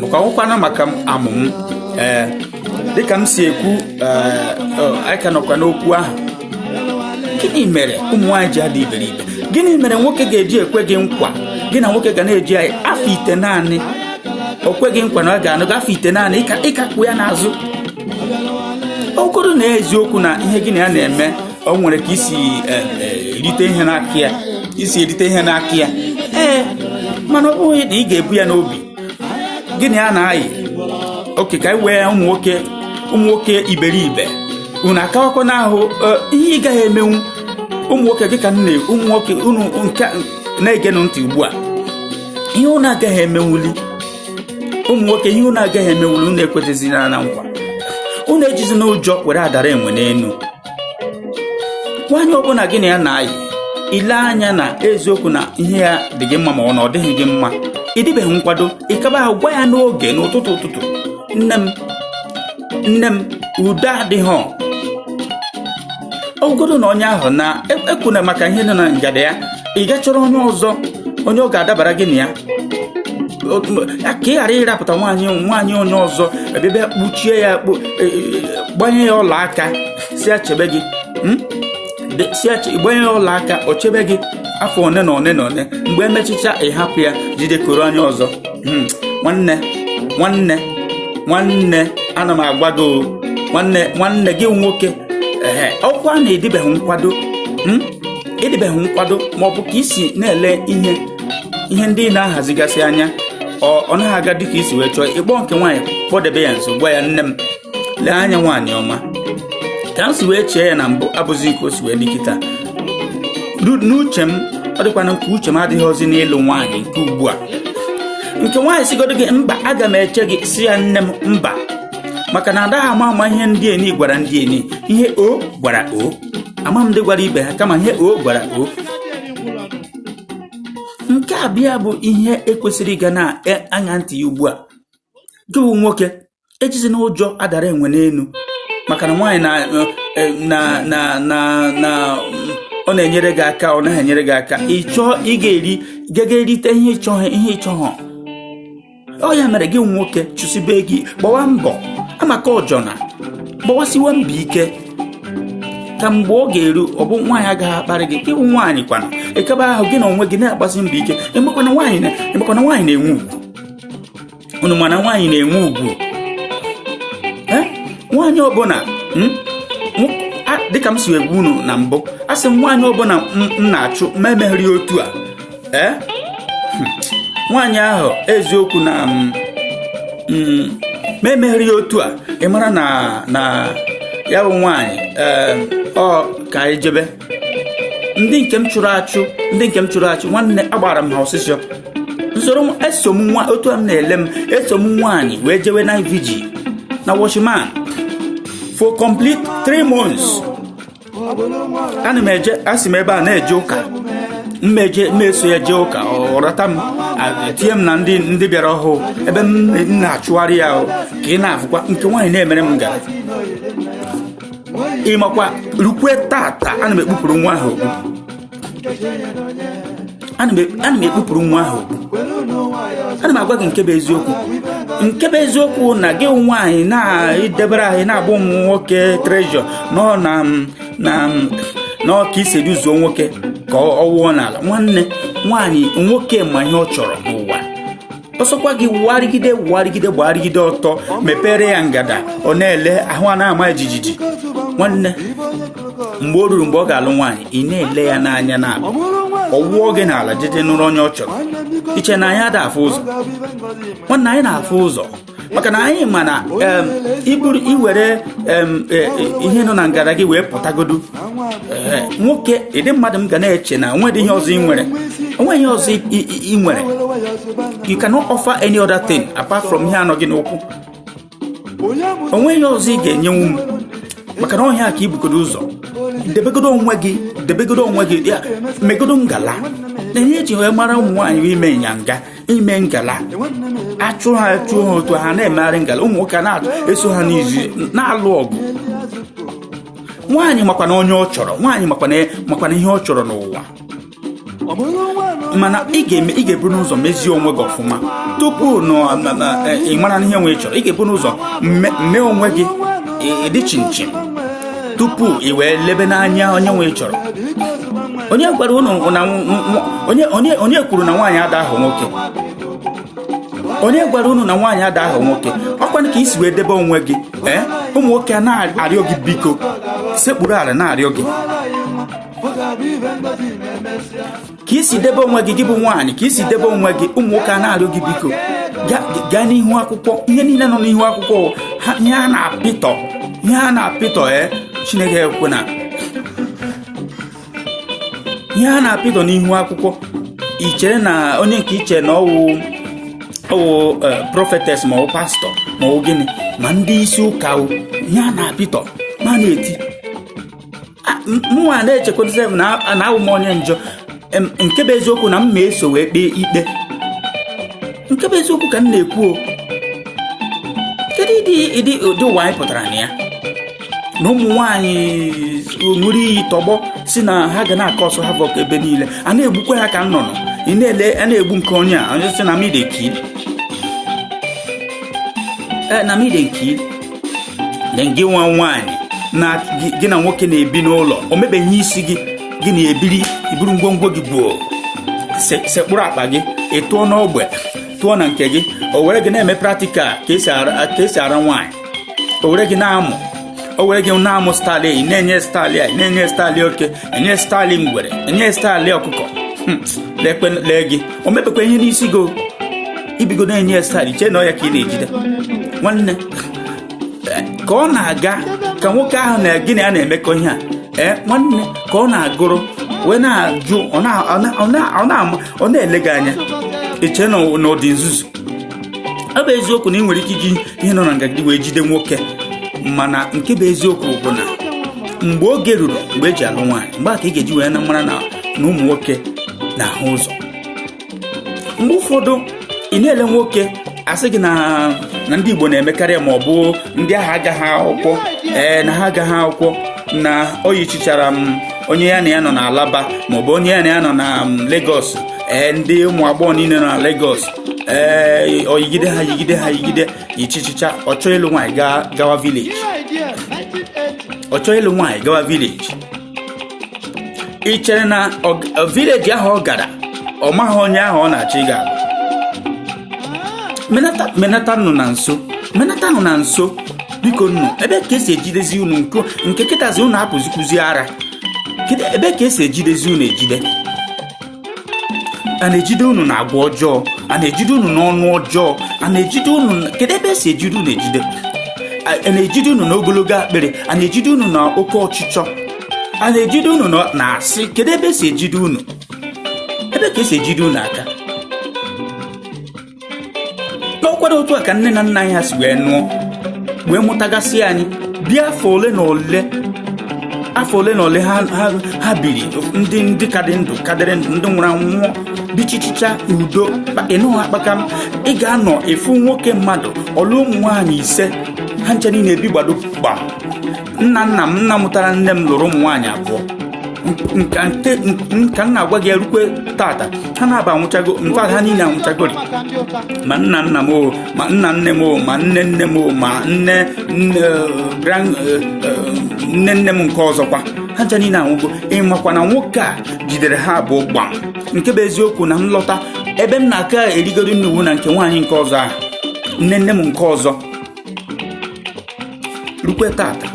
maka akwụkwọ anụ maka amụm ee eh, dịka m si ekwu anyị ka nọkwa n'okwu ahụ gịnị mere ụmụ nwaanyị ji adị iberibe gịnị mere nwoke ga-eji ekwe gị nkwa gị na nwoke ga na-eji ayị afọ itenaanị o kwe gị nkwa na ọ ga-anụ gị afọ itenaanị ị ka kpụ ya n'azụ ọ bụrụ na eziokwu na ihe gị na ya na-eme o nwere ka i si e, e, erite ihe n'aka ya i si erite ihe n'aka ya ee mana ọ bụghị na ị ga-ebu ya n'obi gị na ya na-ayị okay ka anyị wee ụmụ nwoke ụmụ nwoke iberibe unu akawakwa n'ahụ e, ihe ị gaghị emenwu ụmụ nwoke gị ka m na ụmụ nwoke unu nke na-egenụ ntị ugbu a ihe unu agaghị emenwuli ụmụ nwoke ihe unu agaghị emenwuli unu ekwezizina nkwa unu ejizina ụjọ were adara enwe n'elu nwaanyị ọbụla gị na ya na-ayị i lee anya na eziokwu na ihe ya dị gị mma ma ọ na ọ dịghị gị mma ị dịbeghị nkwado ị kaba ahụ gwa ya n'oge n'ụtụtụ ụtụtụ nne m nne m udo adịghị ọgọdọ nọ onye ahụ na ekwuna maka ihe dị na ngada ya ị gaa chọrọ onye ọzọ onye ọ ga-adabara gị na ya ka ị ghara ịrapụta nwaanyị nwaanyị onye ọzọ ebe kpuchie ya e, e, gbanye ya ọla aka sị ya chebe gị hmm? si gbanye ya ọla aka o chebe gị afọ one na one na one mgbe e mechacha ị hapụ ya jidekọrọ onye ọzọ hmm. nwanne nwanne nwanne ana m agwa gị nwanne nwanne gị nwoke ee ọkwa na ị dịbeghị nkwado hmm? ị dịbeghị nkwado ma ọ bụ ka i si na-ele ihe ihe ndị ị na-ahazigasị anya ọ naghị aga dịka i si wee chọọ ị kpọọ nke nwaanyị kpọdebe ya nso gwa ya nne m lee anya nwaanyị ọma ka m si wee chee ya na mbụ abụzi nke o si wee dị kịta n'uche m ọ dịkwanụ ka uche m adịghịzi n'ịlụ nwaanyị nke ugbu a nke nwaanyị sịgodu gị mba aga m eche gị sị ya nne m mba maka na adaghị ama ama ihe ndị eni gwara ndị eni ihe o gwara o ama m ndị gwara ibe ha kama ihe o gwara o nke a bịa bụ ihe ekwesịrị ịga na-aṅa e, ntị ya ugbu a gị bụ nwoke ejizina ụjọ adara enwe n'elu maka na nwaanyị na e, na na na na ọ na-enyere gị aka ọ naghị enyere gị aka ị chọọ ị ga-eri gaga erite ihe ịchọghị ihe ịchọghọ ọ ya mere gị wụ nwoke chụsibe gị gbawa mbọ amaka ọjọna gbawasiwe mbọ ike ka mgbe ọ ga-eru ọ bụ nwaanyị agaghị akparị gị ị wụ nwaanyị kwana ekebe ahụ gị na onwe gị na-agbasi mbọ ike emekwana nwaanyị na-enwe ugwu unu ma na nwaanyị na-enwe ugwu nwaanyị ọbụla hmm? dịka m si wee gwa unu na mbụ a sị m nwaanyị ọbụla m na-achụ ma emeghịrị otu a ee hmm. nwaanyị ahụ eziokwu na mm, mm, ma emeghere ya otu a ị mara na na ya bụ nwaanyị ọ ka anyị jebe ndị nke m chụrụ achụ ndị nke m chụrụ achụ nwanne agbara m ha ọsịsọ nsoro eso m nwa otu a m na-ele m eso m nwaanyị wee jewe night vigil na Watchman for complete three months ana m eje asị m ebe ọ na-eje ụka m eje m eso ya jee ụka ọ rata m tinye m na ndị ndị bịara ọhụụ ebe m na-achụgharị ya ka ị na-afụkwa nke nwaanyị na-emere m ngala ị makwa rukwe tata ana m ekpupụrụ nwa ahụ okpu ana m ekpupụrụ nwa ahụ okpu ana m agwa gị nke bụ eziokwu nke bụ eziokwu na gị nwaanyị na-edebere ahụ na-abụ ụmụ nwoke treasure nọ na na n'ọka isi eduzuo nwoke ka ọ wụọ n'ala nwanne nwaanyị nwoke ma ihe ọ chọrọ n'ụwa ọ sọkwa gị wụgharịgide wụgharịgide gbagharịgide ọtọ mepere ya ngada ọ na-ele ahụ ana-ama jijiji nwanne mgbe o ruru mgbe ọ ga-alụ nwaanyị ị na-ele ya n'anya na ọ wụọ gị n'ala jeje nụrụ onye ọ chọrọ i che na anyị ada afụ ụzọ nwanne anyị na-afụ ụzọ maka na anyị ma na i buru i were e, e, ihe nọ na ngada gị wee pụtagodu nwoke ịdị mmadụ m ga na-eche na onweghị ihe ọzọ ị nwere onweghị ihe ọzọ ị nwere you cannot offer any other thing apart from ihe a nọ gị n'ụkwụ onweghị ihe ọzọ ị ga-enyenwu m maka na ọ ihe a ka i bugodo ụzọ debegodo onwe gị debegodo onwe gị megodo ngala na ihe eji wee mara ụmụ nwaanyị ime inyanga ime ngala achụ ha achụ ha otu ha na-emegharị ngala ụmụ nwoke na-eso ha n'azụ na-alụ ọgụ nwaanyị makwana onye ọ chọrọ nwaanyị makwana ihe ọ chọrọ n'ụwa mana ị ga-eme ị ga-eburu n'ụzọ mezie onwe gị ọfụma tupu e, ị mara ihe nwoke chọrọ ị ga-eburu n'ụzọ mee onwe gị ị dị chinchin tupu i wee lebe n'anya onye nke ị chọrọ onye gwara unu na onye kwuru na nwaanyị ada ahọ nwoke onye gwara unu na nwaanyị ada ahọ nwoke ọkwanụ ka i si wee debe onwe gị ee eh? ụmụ nwoke a na-arịọ gị biko sekpuru ala na-arịọ gị ka i si debe onwe gị gị bụ nwaanyị ka i si debe onwe gị ụmụ nwoke a na-arịọ gị biko gaa n'ihu akwụkwọ ihe niile nọ n'ihu akwụkwọ ihe a na-apịtọ ihe a na-apịtọ e chineke ekwena ihe a na-apịtọ n'ihu akwụkwọ i chere na onye nke i che na ọ wụ ọ wụ e, prophetess ma ọ pastor ma ọ gịnị ma ndị isi ụka ihe a na-apịtọ ma na-eti mụnwa na-echekwadozi m na awụ m onye njọ nke bụ eziokwu na m ma eso wee kpee ikpe nke bụ eziokwu ka m na-ekwu o kedu ịdị ịdị ụdị ụwa anyị pụtara na ya na ụmụ nwaanyị ṅụrụ iyi tọgbọ sị na ha ga na-akọ ọsọ ha vọk ebe niile a na-egbukwa ha ka nnụnụ ị na-ele a na-egbu nke onye a onye sị na mide nkiri na mide nkiri gị nwa nwaanyị na gị na nwoke na-ebi n'ụlọ o mebeghị isi gị gị na-ebiri i buru ngwongwo gị gbuo sekpụrụ akpa gị ị tụọ n'ogbe tụọ na nke gị o were gị na-eme practical ka e si ara nwaanyị o were gị na-amụ o were gị na-amụ style na-enye style na-enye style oke enye style ngwere enye style ọkụkọ hmm, lekwe lee gị o mebekwa ihe n'isi gị o. i bigo na-enye ya style chee na ọ ya ka ị na-ejide nwanne ka ọ na-aga ka nwoke ahụ na gị na ya na-emekọ ihe a ee nwanne ka ọ na-agụrụ wee na-ajụ ọ na- ọ na- ọ na- ọ na-ama- ọ na-ele gị anya i che na ọ dị nzuzu ọ bụ eziokwu na ị nwere ike iji ihe nọ na ngada gị wee jide nwoke mana nke bụ eziokwu bụ na mgbe oge ruru mgbe e ji alụ nwaanyị mgbe a ka ị ga-eji wee na mara na na ụmụ nwoke na-ahụ ụzọ mgbe ụfọdụ ị na-ele nwoke a sị gị na na ndị Igbo na-emekarị ma ọ bụ ndị ahụ agaghị akwụkwọ ee na ha agaghị akwụkwọ na o yichichara ma onye ya na ya nọ n'Alaba ma ọ bụ onye ya na ya nọ na Lagos ee ndị ụmụ agbọghọ niile nọ na Lagos ee o yigide ha yigide ha yigide yichichicha ọ chọọ ịlụ nwaanyị gaa gawa village ọ chọọ ịlụ nwaanyị gawa village ị chere na ọ- ọ- village ahụ ọ gara ọ maghị onye ahụ ọ na-achọ ịga alụ menata menata nụ na nso menata nụ na nso bikonụ ebee ka e si ejidezi unu nke nke kịtazi unu apụzikwuzi ara Kedu ebe ka e si ejidezi unu ejide a na-ejide unu na agwa ọjọọ a na-ejide unu n'ọnụ ọjọọ a na-ejide unu na- kedu ebe esi ejide unu ejide a a na-ejide unu na ogologo akpịrị a na-ejide unu na oke ọchịchọ a na-ejide unu na- na asị kedu ebe esi ejide unu ebe ka esi ejide unu aka n'ọkwado otu a ka nne na nna anyị ha si wee nụọ wee mụtagasị anyị bie afọ ole na ole afọ ole na ole ha ha- ha biri ndị ndị ka dị ndụ ka dịrị ndụ ndị nwụrụ anwụ nwụọ bichichicha udo kpa- ịnụghị akpaka m ị ga-anọ ofu nwoke mmadụ ọ lụọ ụmụ nwaanyị ise ha ncha niile ebi gbado gbam nna nna m nna mụtara nne m lụrụ ụmụ nwaanyị abụọ nka nte ka m na-agwa gị erukwe tata ha naabọ anwụchago mfa ha niile anwụchagori ma nna nna m o ma nna nne m o ma nne nne m o ma nne nne grand nne nne m nke ọzọkwa ha ncha niile anwụgo ịmakwa na nwoke a jidere ha abụọ gbam nke bụ eziokwu na m lọta ebe m na-aka erigori nni wụ na nke nwaanyị nke ọzọ ahụ nne nne m nke ọzọ rukwe tata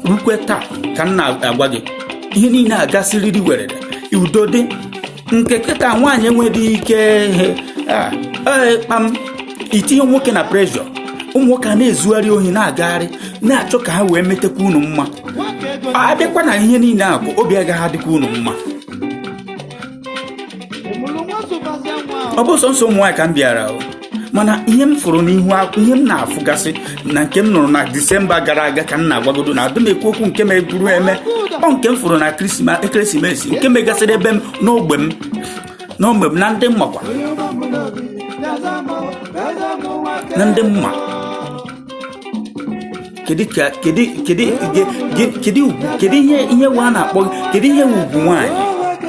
rukwe taa ka m na-agwa gị ihe niile agasịrịrị werere udo dị nke kịta nwaanyị enweghị ike ihe a ee kpam itinye nwoke na pressure ụmụ nwoke a na-ezugharị ohi na-agagharị na-achọ ka ha wee metakwa unu mma a bịakwa na ihe niile a bụ obi agaghị adịkwa unu mma ọ bụ sọnsọ ụmụ nwaanyị ka m bịara o mana ihe m fụrụ n'ihu akwụ ihe m na-afụgasị na nke m nụrụ na disemba gara aga ka m na-agwagodo na adị m ekwu okwu nke meburu eme ọ nke m fụrụ na ekeresimesi nke megasịrị ebe m n'ogbe m n'ogbe m na ndị m makwa na ndị m ma kedu ka kedu kedu ge- ge- kedu ugwu kedu ihe ihe wa na-akpọ kedu ihe wụ ugwu nwaanyị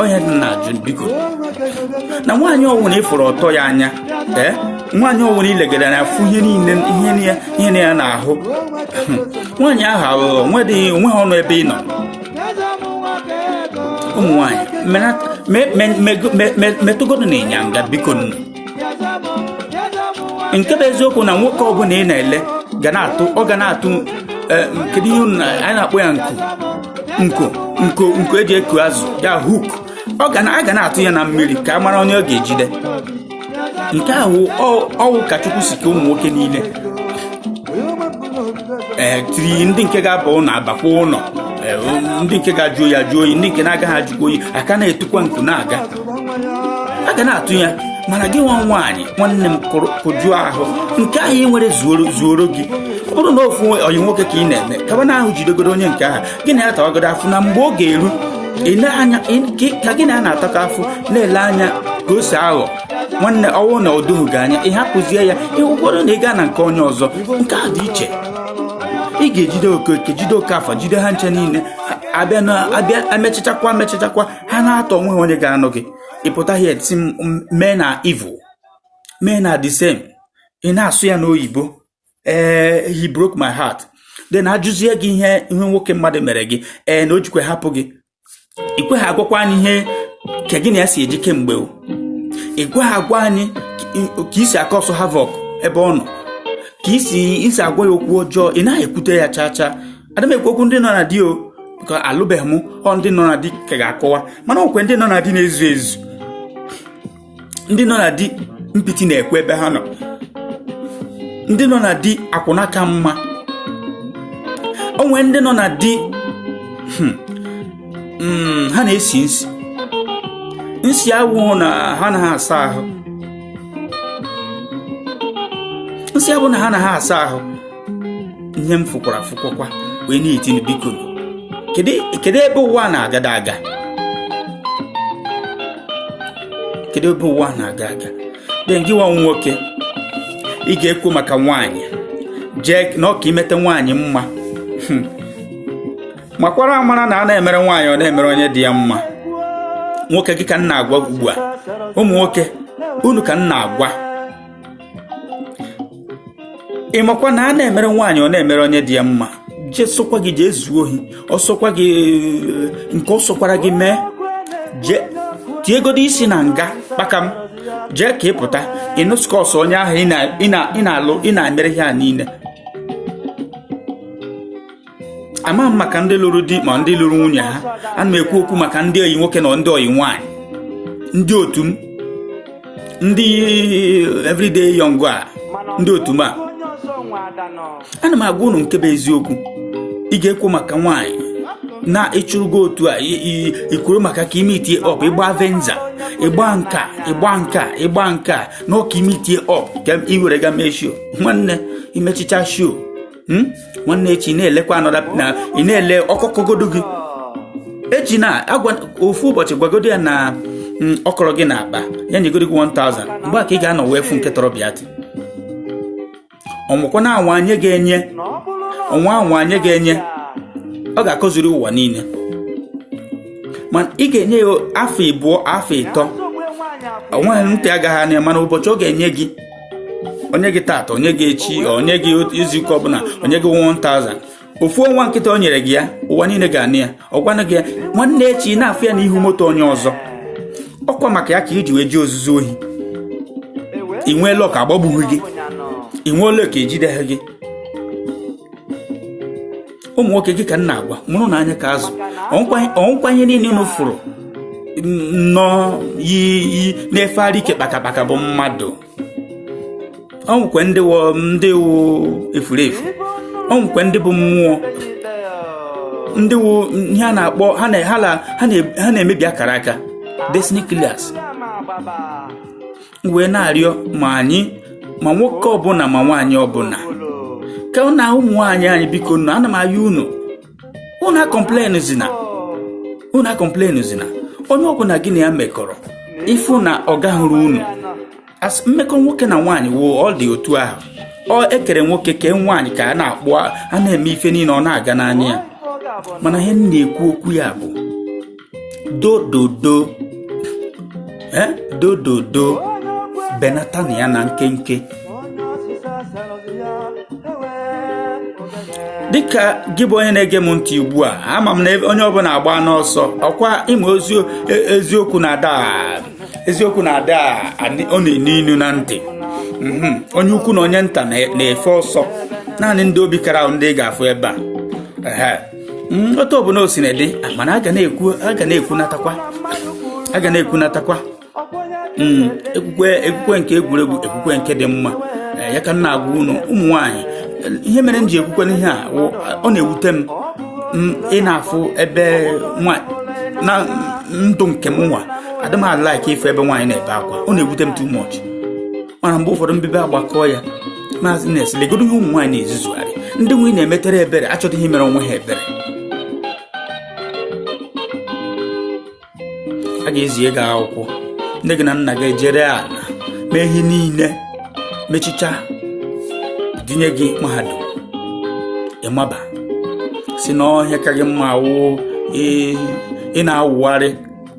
onye dị na ajụ biko na nwaanyị ọ wụ na ị fụrụ ọtọ ya anya ee nwaanyị ọ wụ na i legara na-afụ ihe niile ihe niile ihe niile ya n'ahụ nwaanyị ahụ aghụghọ nwedịghị o nweghị ọnụ ebe ị nọ ụmụ nwaanyị menat- me- me- me- me- me- metụgodu na ịnyanga biko nụ nke bụ eziokwu na nwoke ọbụla ị na-ele ga na-atụ ọ ga na-atụ eh, kedu ihe anyị na-akpọ ya nko nko nko nko eji eku azụ ya hook ọ ga a ga na-atụ ya na mmiri ka a mara onye ọ ga-ejide nke ahụ ọ wụ ka chukwu si kee ụmụ nwoke niile ee eh, tiri ndị nke ga-aba ụlọ abakwa ụlọ eh, ndị nke ga-ajụ oyi ajụ oyi ndị nke na-agaghị ajụkwa oyi a ka na-atụkwa nko na-aga a ga na-atụ ya mana gị nwa nwaanyị nwanne m kụjụọ ahụ nke ahụ ị nwere zuoro gị ọ bụrụ na ofu oyi nwoke ka ị na-eme kaba na ahụ jidegoro onye nke ahụ gị na ya tawagodo afụfụ na mgbe ọ ga-eru ka gị na ya na-atakọ afụfụ na-ele anya ka o si aghọ nwanne ọwụ na ọ gị anya ị hapụzie ya ịhụkwado na ị gaa na nke onye ọzọ nke a dị iche ị ga-ejide oke jide okafọ jide ha ncha niile abịa na abịa amechachakwa amechachakwa ha na-atọ onwe ha onye ga-anụ gị ị pụta ị sị men are evil men are the same ị na-asụ ya n'oyibo ee eh, he broke my heart then a jụzie gị ihe ihe nwoke mmadụ mere gị ee eh, na o jikwe hapụ gị i kweha agwakwa anyị ihe ka gị na ya si eji kemgbe o i kweha agwa anyị ka i si acause havoc ebe ọ nọ ka i si i si agwa ya okwu ọjọọ ị naghị ekwute ya chaa chaa ada m ekwu okwu ndị nọ na di o ka alụbeghị m ọ ndị nọ na di ka ga-akọwa mana okwe ndị nọ na di na-ezu ezu ndị nọ na di mpịtị na-ekwu ebe ha nọ ndị nọ na di akwụna ka mma o nwee ndị nọ na di hmm, hmm, ha na-esi nsị nsị awụghị na ha anaha asa ahụ nsị abụ na ha anaha asa ahụ ihe m fụkwara fụkwakwa wee na-etinu biko kedu ebe ụwa na-agada aga kedu ebe ụwa na-aga aga then gị nwa nwoke ị ga-ekwo maka nwaanyị jee na ọ ka i meta nwaanyị mma hmm. makwara amara na a na-emere nwaanyị ọ na-emere onye dị ya mma nwoke gị ka m na-agwa ugbu a ụmụ nwoke unu ka m na-agwa ị makwa na a na-emere nwaanyị ọ na-emere onye dị ya mma jee sọkwa gị jee zuo ohi ọ sọkwa gị nke ọ sọkwara gị mee jee tiegodo isi na nga kpakam jee ka ị pụta ịnụskọs onye ahụ ị na-alụ ị na-emere ihe a niile ama m maka ndị lụrụ di ma ndị lụrụ nwunye ha ana m ekwu okwu maka ndị oyi nwoke na ndị oyi nwaanyị ndị otu m ndị everyday young a ndị otu m a ana m agwa unu nke bụ eziokwu ị ga-ekwo maka nwaanyị na ị chụrụ ego otu a i kworo maka ka i meet up ịgba venza ịgba nke a ịgba nke a ịgba nke a na ọ ka i meet up ka ị were ga mee show nwanne i mechachaa show hmm? nwanne echi na-elekwa anọda na ị na-ele ọ kọkọgodo gị echi na agwa ofu ụbọchị gwagodo ya na hmm, ọ kọrọ gị n'akpa ya nyegodo gị 1000 mgbe a ka ị ga-anọ wee fụ nke tọrọ Biati ọnwụkwa na anwa anyị ga-enye ọnwa anwa anyị ga-enye ọ ga-akọziri ụwa niile ma ị ga-enye ya afọ ịbụọ afọ ịtọ onweghị ntị agaghị anụ ya mana ụbọchị ọ ga-enye gị o nye gị tata o nye gị echi o nye gị izuụka ọbụla o nye gị 1000 ofu ọnwa nkịta o nyere gị ya ụwa niile ga-anụ ya ọ gwanụ gị ya nwanne echi ị na-afụ ya n'ihu moto onye ọzọ ọkwa maka ya ka i ji wee je ozuzu ohi i nwee luck agbagbughị gị i nwee luck ejideghị gị ụmụ nwoke gị ka m na-agwa mụrụnụ anya ka azụ ọ wụkwa onye niile unu fụrụ nnọọ yi yi na-efegharị ike kpakakpaka bụ mmadụ o nwekwe ndị wụ ndị wụ efuru efu o nwekwe ndị bụ mmụọ ndị wụ ihe a na-akpọ ha na- ha na- ha na- ha na-emebi akara aka destiny killers wee na-arịọ ma anyị ma nwoke ọbụla ma nwaanyị ọbụla ka ọ na ụmụ nwaanyị anyị biko nụ ana m ayọ unu unu acomplainzina unu acomplainzina onye ọbụla gị na ya mekọrọ ife na ọ gahụrụ unu mmekọ nwoke na nwaanyị wụ ọ dị otu ahụ ọ ekere nwoke kee nwaanyị ka a na-akpụ a na-eme ife niile ọ na-aga n'anya ya mana ihe m na-ekwu okwu ya bụ dododo eh? dododo benata na ya na nkenke dịka gị bụ onye na-ege m ntị ugbu a ama m na onye ọbụla agbana ọsọ ọkwa ịma e, eziokwu na-ada eziokwu na-ada ọ na-enu inu na ntị mhm. onye ukwu na onye nta na-efe ọsọ naanị ndị obi kara wụ ndị ị ga-afụ ebe a Mm, otu ọbụla o sina dị mana a ga na-ekwu a ga na-ekwunatakwa a ga na-ekwunatakwa mm, ekwukwe ekwukwe nke egwuregwu ekwukwe nke dị mma eh, ya ka m na-agwa unu ụmụ nwaanyị ihe mere m ji ekwukwe n'ihe a ọ na-ewute m mm, ị na-afụ ebe na ndụ nke m nwa adịm a-like ịfụ ebe nwaanyị na-ebe akwa ọ na-ewute m too much mana mgbe ụfọdụ mbibe agbakọọ ya maazị nes legodo ihe ụmụ nwaanyị na-ezuzugharị ndị m nwa na-emetere ebere achọghị imere onwe ha ebere a ga-ezi ego akwụkwọ nne gị na nna gị ejiri ala mee ihe niile mechicha dinye gị mahadum ị maba sị n'ọhịa ka gị mma wụ ị na-awụgharị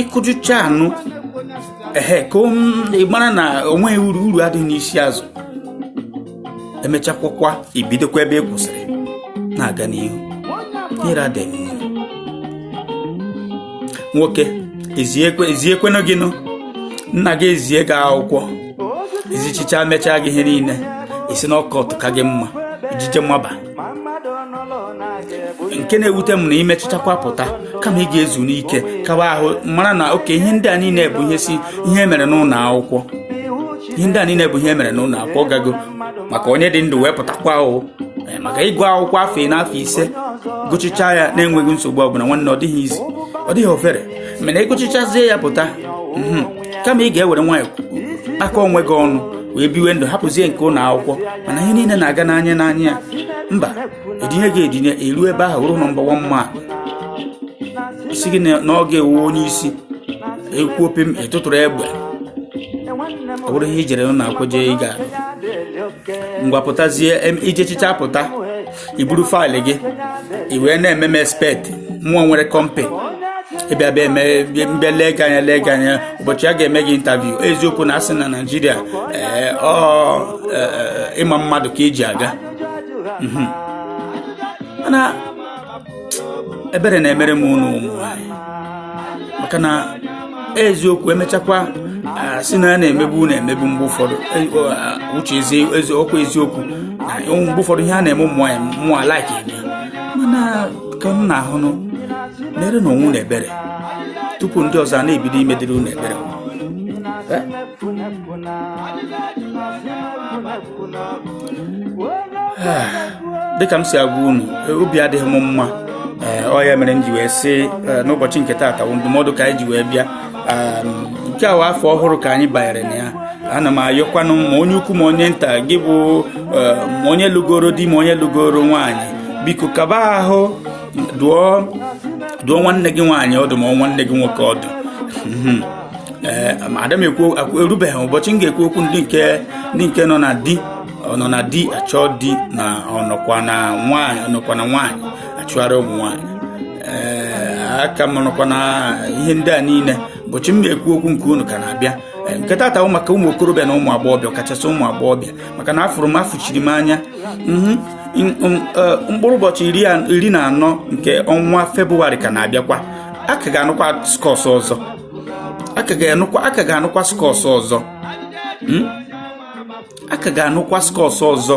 ịkụjụcha anụ ehe ka ị mara na onweghị uru uru adịghị n'isi azụ emechakwakwa ibidokwa ebe ị kwụsịrị na-aga n'ihu ihere adịghị nwoke eziekwanụ gị nụ nna gị ezie gị akwụkwọ ezichicha mechaa gị ihe niile ị sị na ọ cult ka gị mma ijije maba nke na-ewute m na imechichakwa pụta kama ị ga-ezu n'ike kawa ahụ mara na okay ihe ndị a niile bụ ihe si ihe mere n'ụlọ akwụkwọ ihe ndị a niile bụ ihe mere n'ụlọ akwụkwọ gago maka onye dị ndụ wee pụtakwa o eh, maka ịgụ akwụkwọ afọ anọ afọ ise gụchicha ya na-enweghị nsogbu ọbụla nwanne ọ dịghị easy ọ dịghị ofere mana ịgụchichazie ya pụta mhm. kama ị ga-ewere nwayọ aka onwe gị ọnụ wee biwe ndụ hapụzie nke ụlọ akwụkwọ mana ihe niile na-aga n'anya n'anya ya mba edinye gị edinye elu ebe ahụ ruo nọmba wan ma sị gị na ọ gị wụ onye isi e kwuo pịm ịtụtụrụ egbe ọ bụrụ ihe ijere n'akwụkwọ je ị ga ngwa pụtazie ijechicha pụta i buru faịlụ gị i wee na-eme m expect mụ nwere kọmpịnị ịbịa bịa ebe m bịa lee gị anya lee gị anya ụbọchị a ga-eme gị intaviu eziokwu na a sị na naijiria ee, ọ ee, ịma mmadụ ka eji aga Mhm. mana ebere na-emere m unu ụmụ maka na eziokwu emechakwa sị na a na-emegbu unu emegbu mgbe ụfọdụ e, uche eziokwu eziokwu na mgbe ụfọdụ ihe a na-eme ụmụ nwaanyị mụ a like mana kanụ ahụ nụ merenụ onwe unu ebere tupu ndị ọzọ a na-ebido imedịrị unu ebere ah, dịka m si agwa unu obi adịghị m mma eh, ọ ya mere m ji wee sị eh, n'ụbọchị nke taata bụ ndụmọdụ ka anyị ji wee bịa ah, nke a wụ afọ ọhụrụ ka anyị banyere na ya ana m ayọkwanụ ma onye ukwu ma onye nta gị bụ eh, ma onye lụgoro di ma onye lụgoro nwaanyị biko kaba ahụ dụọ nwanne gị nwaanyị ọdụ ma nwanne gị nwoke ọdụ hmm. ee eh, ada m ekwu erubeghị ụbọchị m ga-ekwu okwu ndị nke ndị nke nọ na di nọ na di achọ di na ọnọkwa na nwaanyị ọnọkwa na nwaanyị achụgharị ụmụ nwaanyị ee eh, aka m nọkwa na ihe ndị a niile ụbọchị m na-ekwu okwu nke unu ka na-abịa eh, nke taata bụ maka ụmụ okorobịa na ụmụ agbọghọbịa kachasị ụmụ agbọghọbịa maka na afụrụ m afụchiri m anya mhm. mkpụrụ ụbọchị iri na anọ nke ọnwa febụwarị ka na-abịakwa a ka ga-anụkwa skọs ọzọ a ka ga-anụkwa a ka ga-anụkwa skọs ọzọ hmm? a ka ga-anụkwa skọs ọzọ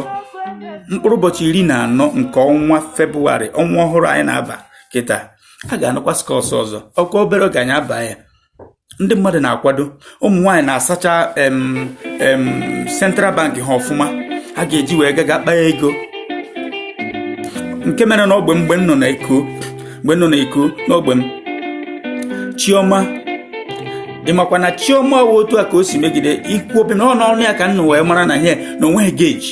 mkpụrụ ụbọchị iri na anọ nke ọnwa febụwarị ọnwa ọhụrụ anyị na-aba kịta a ga-anụkwa skọs ọzọ ọ kwa obere oge anyị aba ya ndị mmadụ na-akwado ụmụ nwaanyị na-asacha central bank ha ọfụma a ga-eji wee ga ga kpaa ego nke mere n'ogbe m mgbe m nọ na eko mgbe m nọ na eko n'ogbe m chioma ị makwa na chioma otu a ka o si megide ikwu obi na ọ n'ọnụ ya ka a nọ wee mara na ihe na o nweghị gauge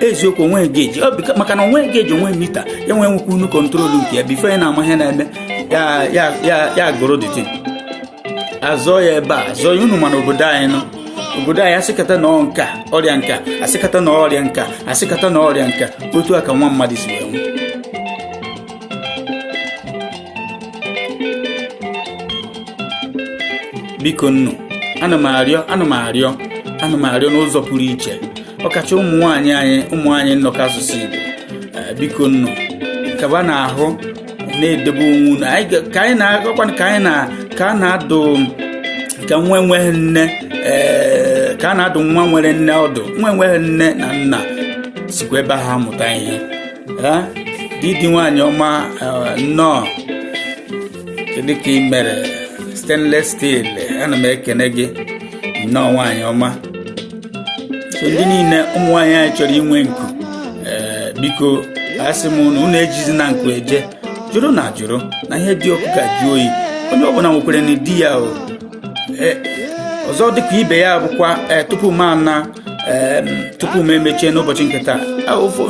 eziokwu o nwe gauge maka na o nwe gauge o nwe meter ya nwee nwekwa unu control nke ya before ya na-ama ihe na-eme ya gụrụ dịtị azọ ya ebe a zọọ ya unu mana obodo anyị nọ obodo anyị asịkata na nka ọrịa nka asịkata na ọrịa nka asịkata na ọrịa nka otu a ka nwa mmadụ si enwe biko nnu ana m arịọ ana m arịọ ana m arịọ n'ụzọ pụrụ iche ọkacha ụmụ nwaanyị anyị ụmụ anyị nnọkọ asụsụ Igbo eh, biko nnu kaba na ahụ na-edebe onwe unu ka anyị na-agakwa ka anyị na ka a na-adụ ka nwa enweghị nne eh, ka a na-adụ nwa nwere nne ọdụ nwa enweghị nne na nna sikwa ebe ha mụta ihe eh, didi nwaanyị ọma nnọọ kedu ka ị mere stainless steel ana m ekene gị nnọọ nwaanyị ọma so ndị niile ụmụ nwaanyị anyị chọrọ inwe nku ee biko asị m unu unu ejizina nku eje jụrụnụ ajụrụ na ihe dị ọkụ ga-ajụ oyi onye ọbụla nwekwere ndidi ya o ọzọ dịka ibe ya bụkwa tupu m ana tupu m emechie n'ụbọchị nke taa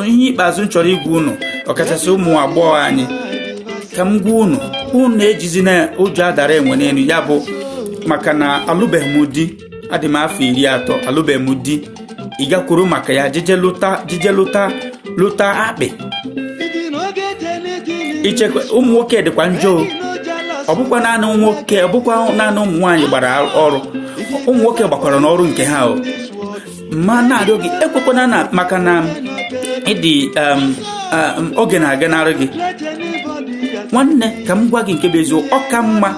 ihe ikpeazụ m chọrọ ịgwa unu ọkachasị ụmụ agbọghọ anyị ka m gwa unu unu ejizina ụjọ adara enwe n'elu ya bụ maka na alụbeghị m di adị m afọ iri atọ alụbeghị m di ị gakwuru maka ya ji je lụta lụta akpị i chekwa ụmụ nwoke dịkwa njọ ọ bụkwa naanị nwoke ọ bụkwa naanị ụmụ nwaanyị gbara ọrụ ụmụ nwoke gbakwara n'ọrụ nke ha o m na-arịọ gị ekwukwana na maka na ị dị um, um, oge na-aga n'arụ gị nwanne ka m gwa gị nke bụ eziokwu ọ ka mma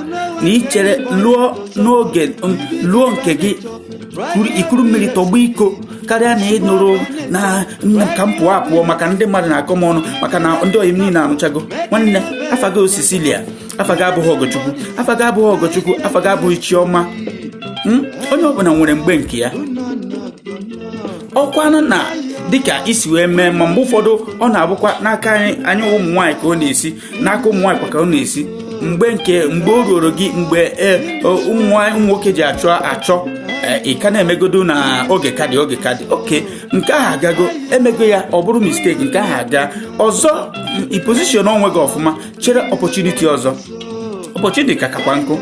na i chere lụọ n'oge um, lụọ nke gị i kuru mmiri tọgbọ iko karịa na ị nụrụ na nne m ka m pụọ apụọ maka ndị mmadụ na-akọ m ọnụ maka na ndị ọyị m niile anụchago nwanne afa gị ọ cecilia afa gị abụghị ọgọchukwu afa gị abụghị ọgọchukwu afa gị abụghị chiọma hmm? onye ọbụla nwere mgbe nke ya ọkwanụ na dịka i si wee mee ma mgbe ụfọdụ ọ na-abụkwa n'aka anyị ụmụ nwaanyị ka ọ na-esi n'aka ụmụ nwaanyị kwa ka ọ na-esi mgbe nke mgbe o ruru gị mgbe e, o, ụmụ nwaanyị- ụmụ nwoke ji achọ achọ e, ị ka na-emegodo na oge ka dị oge ka dị okay nke ahụ agago emego ya ọ bụrụ mistake nke ahụ aga ọzọ m, i position onwe gị ọfụma chere opportunity ọzọ opportunity ka kakwa nkụ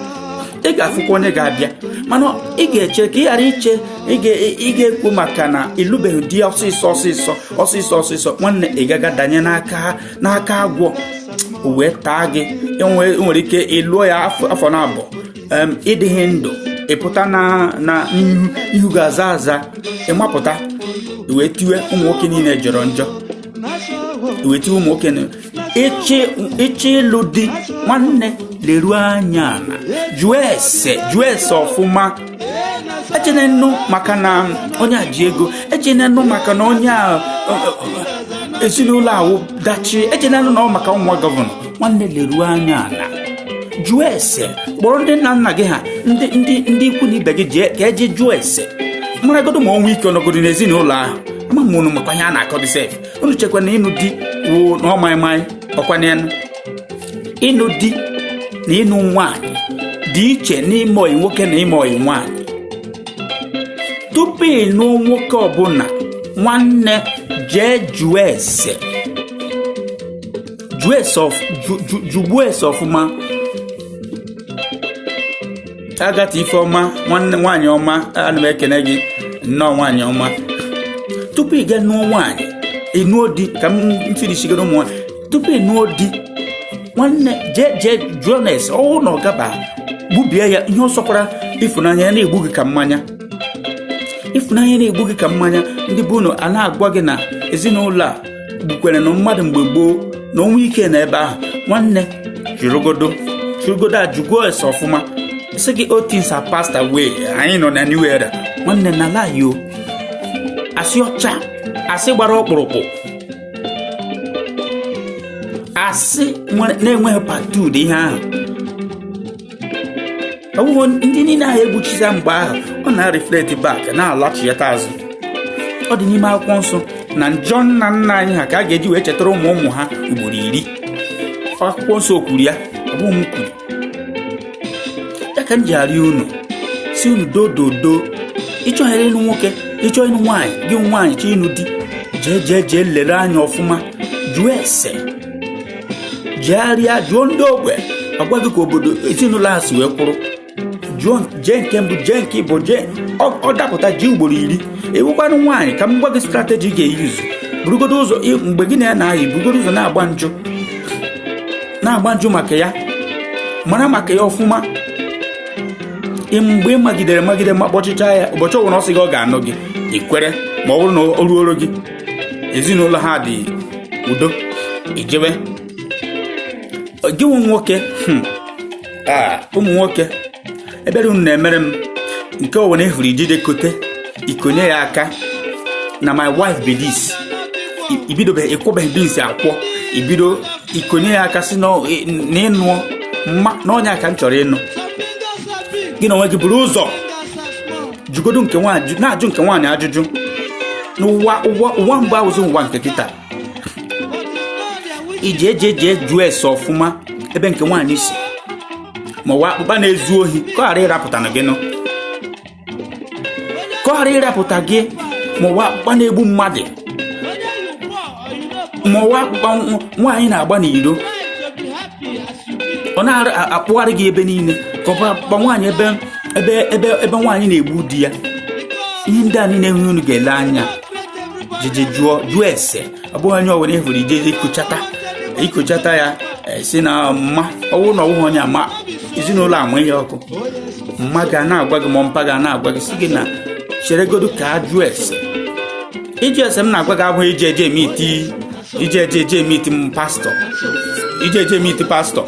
ị ga-afụkwa onye ga-abịa mana ị ga-eche ka ị ghara iche ị ga- ị ga-ekwu maka na ịlụbeghị di ọsịsọ ọsịsọ ọsịsọ ọsịsọ nwanne ị ga-aga danye n'aka ha n'aka agwọ o wee taa gị nwere ike ị lụọ ya afọ naabọ ị dịghị ndụ ị pụta na ihu gị azaa aza ị mapụta wee tiwe ụmụ nwoke niile jọrọ njọ wee tiwe ụmụ nwoke ị chọọ ịlụ di nwanne leruo anya ala jụọ ese jụọ ese ọfụma ejene nụ maka na onye a ji ego ejene nụ maka na onye a ezinụlọ a wụ dachi ejene nụ na ọ wụ maka nwa governor nwanne leruo anya ala jụọ ese kpọrọ ndị nna nna gị ha ndị ndị ndị ikwu na ibe gị jee ka e jee jụọ ese maragodo ma ọnwụ ike ọ nọgodo n'ezinụlọ ahụ ama m unu makwa ihe a na-akọdị sef unu chekwa na ịnụ di wụ na ọ maịmaị ọkwa n'elu ịnụ di na ịnụ nwanyị dị iche n'ime ọyị nwoke na ime ọyị nwanyị tupu ị nụ nwoke ọbụla nwanne jee jụọ ese jụọ ese ọf- jụ- jụ- jụgbuo ese ọfụma Agatha Ifeoma nwanne nwaanyị ọma ana m ekene gị nnọọ nwaanyị ọma tupu ị ga nụọ nwaanyị ị nụọ di ka m finishigodo ụmụ nwaanyị tupu ị nụọ di nwanne jee jee jụọnụ ese ọ wụ na ọ gaba gbubie ya ihe ọ sọkwara ịfụnanya ya na-egbu gị ka mmanya ịfụnanya na-egbu gị ka mmanya ndị be unu a na-agwa gị na ezinụlọ a gbukwerenụ mmadụ mgbe gboo na ọnwụ ike nọ ebe ahụ nwanne jụrụgodo jụrụgodo a jụgo ese ọfụma sị gị old things are passed away anyị nọ na new era nwanne na lie o asị ọcha asị gbara ọkpụrụkpụ asị nwere- na-enweghị part two ihe ahụ ọwụghọ ndị niile ahụ e gbuchisa mgbe ahụ ọ na-reflect back na-alọchịta azụ ọ dị n'ime akwụkwọ nsọ na njọ nna nna anyị ha ka a ga-eji wee chetara ụmụ ụmụ ha ugboro iri akwụkwọ nsọ kwuru ya ọ bụghị m kwuru ya ka m ji arịọ unu si unu dododo ịchọghịrị ịnụ nwoke ịchọ ịnụ nwaanyị gị nwaanyị chọ ịnụ di jee jee jee lere anya ọfụma jụọ ese jegharịa jụọ ndị ogbe a gwa gị ka obodo ezinụlọ a si wee kwụrụ jụọ jee nke mbụ jee nke ịbụọ jee ọ dapụta jee ugboro iri ị wụkwanụ nwaanyị ka m gwa gị strategy ị ga-eyuzu burugodo ụzọ mgbe gị na ya na-ayị burugodo ụzọ na-agba njụ na-agba njụ maka ya mara maka ya ọfụma mgbe ị magidere magide ma kpọchịcha ya ụbọchị ọbụla ọ sị gị ọ ga-anụ gị i kwere ma ọ bụrụ na o ruoro gị ezinụlọ ha dị udo i jewe gị wụ nwoke hmm, Ah, ụmụ nwoke ebere unu na-emere m nke ọwụna ị hụrụ i jide kote i konye ya aka na my wife be this I- ibidobeghị ịkwụbeghị bins akwọ ibido ikonye ya aka si na ọ- ị- na ịnụọ mma na onye a ka m chọrọ ịnụ gị na onwe gị buru ụzọ jụgodu nke nwaanyị na-ajụ nke nwaanyị ajụjụ n'ụwa ụwa ụwa mbụ awụzi ụwa nke kịta i jee jee jee jụọ ese ọfụma ebe nke nwaanyị si ma ọ wụ akpụkpa na-ezu ohi ka ọ ghara ịrapụta na gị nụ ka ọ ghara ịrapụta gị ma ọ wụ akpụkpa na-egbu mmadụ ma ọ wụ akpụkpa nw- nwaanyị na-agba n'iro ọ na-akpụgharị gị ebe niile ka ọ bụ akpụkpa nwaanyị ebe ebe ebe ebe nwaanyị na-egbu di ya ihe ndị a niile ihe unu ga-ele anya jeje jụọ jụọ ese ọ bụghị onye ọbụla ị hụrụ i jeje ikuchata ikuchata ya i si na mma ọwụ na ọwụghị onye ama ezinụlọ ama ihe ọkụ mma gị na-agwa gị ma mpa gị na-agwa gị si gị na cheregodu ka a jụọ ese ịjụ ese m na-agwa gị abụghị ije eje emiiti ije eje eje emiiti m pastọ ije eje emiiti pastọ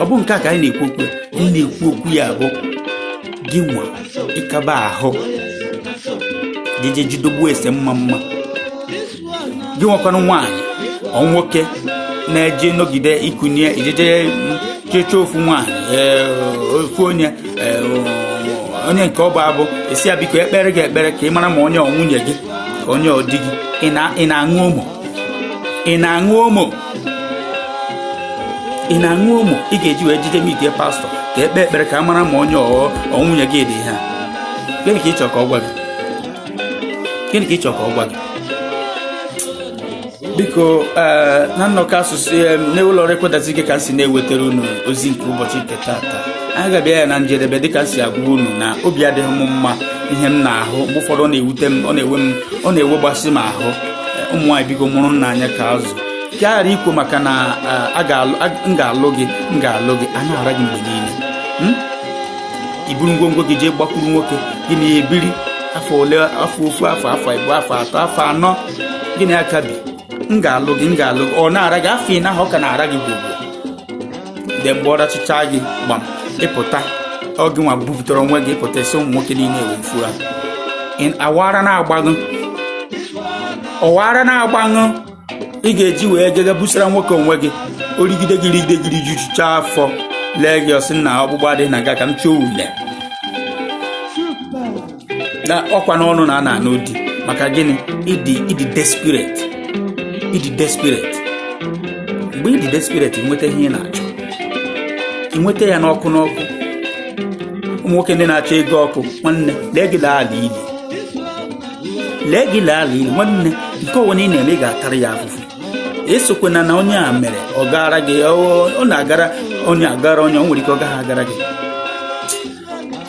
ọ bụ nke a ka anyị na-ekwu okwu m na-ekwu okwu ya bụ gị nwa ị kaba ahụ jeje jụgodu ese mma mma gị wụkwanụ nwaanyị ọ nwoke na-eje nọgide ikunye i jeje chịchọ ofu nwaanyị ee, ofu onye ee, onye nke ọ bụ abụ i si ya biko e kpeere gị ekpere ka ị mara ma onye ọ nwunye gị onye ọ di gị ị na- ị na-aṅụ ụmụ ị na-aṅụ ụmụ ị na-aṅụ ụmụ ị ga-eji wee jeje miite pastọ ka e kpee ekpere ka a mara ma onye ahụ ọ nwunye gị dị ha gịnị ka ị chọrọ ka ọ gwa gị gịnị ka ị chọrọ ka ọ gwa gị biko ee, na nnọkọ asụsụ em, n'ụlọ ọrụ ekwentị gị ka m si na-ewetara unu ozi nke ụbọchị nke tata anyị ga-abịa ya na njedebe dịka m si agwa unu na obi adịghị m mma ihe m na-ahụ mgbe ụfọdụ ọ na-ewute m ọ na-ewe m ọ na-ewegbasị m ahụ ụmụ nwaanyị biko mụrụnụ anya ka azụ ka a ghara ikwo maka na m ga-alụ gị m ga-alụ gị a na-ara gị mgbe niile hmm? i buru ngwongwo gị jee gbakwuru nwoke gị na ya ebiri afọ ole afọ ofu afọ afọ ịbụọ afọ atọ afọ anọ gị na ya ka bi m ga-alụ gị m ga-alụ gị ọ na-ara gị afọ ị na ọ ka na-ara gị gwogwo de mgbe ọ rachịcha gị gbam ị pụta ọ gịnwa bupụtara onwe gị ị pụta ị sị ụmụ nwoke niile wee fura ọ wụ ara na-agbaṅụ ọ wụ ara na-agbaṅụ ị ga-eji wee gaga busara nwoke onwe gị o rigide gị rigide gị rijuchicha afọ lee gị ọ sị na ọgbụgba dị na ga ka m chọọ ule na ọkwa n'ọnụ na a na-anụ di maka gịnị ị dị ị dị desperate ị dị desperate mgbe ị dị desperate inweta ihe ị na-achọ ị nweta ya n'ọkụ n'ọkụ ụmụ nwoke ndị na-achọ ego ọkụ nwanne lee gị laa ala ili lee gị laa ala ili nwanne nke ọwụna ị na-eme ị ga-atara ya afụfụ esokwana na onye a mere ọ gara gị ọ ọ na-agara onye agara onye o nwere ike ọ gaghị agara gị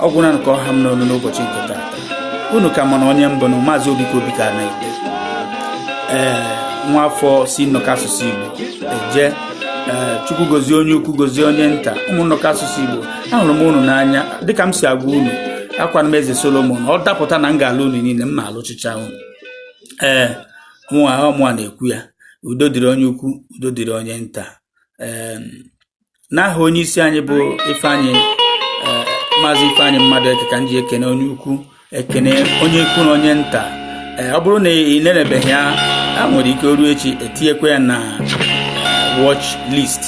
ọ gwụna ka ọ ha m n'ọnụ n'ụbọchị nke taata unu ka ma na onye m bụ na maazị Obika Obika na ite ee nwa afọ si nnọkọ asụsụ Igbo eje ee Chukwu gozie onye ukwu gozie onye nta ụmụ nnọkọ asụsụ Igbo ahụrụ m unu n'anya dịka m si agwa unu akwana m eze Solomon ọ dapụta na m ga-alụ unu niile m na-alụchịcha unu ee mụnwa ọ mụnwa na-ekwu ya udo dịrị onye ukwu udo dịrị onye nta ee n'aha onye isi anyị bụ Ifeanyị eh, maazị Ifeanyị Mmadụeke ka m ji ekene onye ukwu ekene onye ukwu na onye nta eh, ọ bụrụ na ị nenebeghị ya e nwere ike o ruo echi e tinyekwa ya na eh, watch list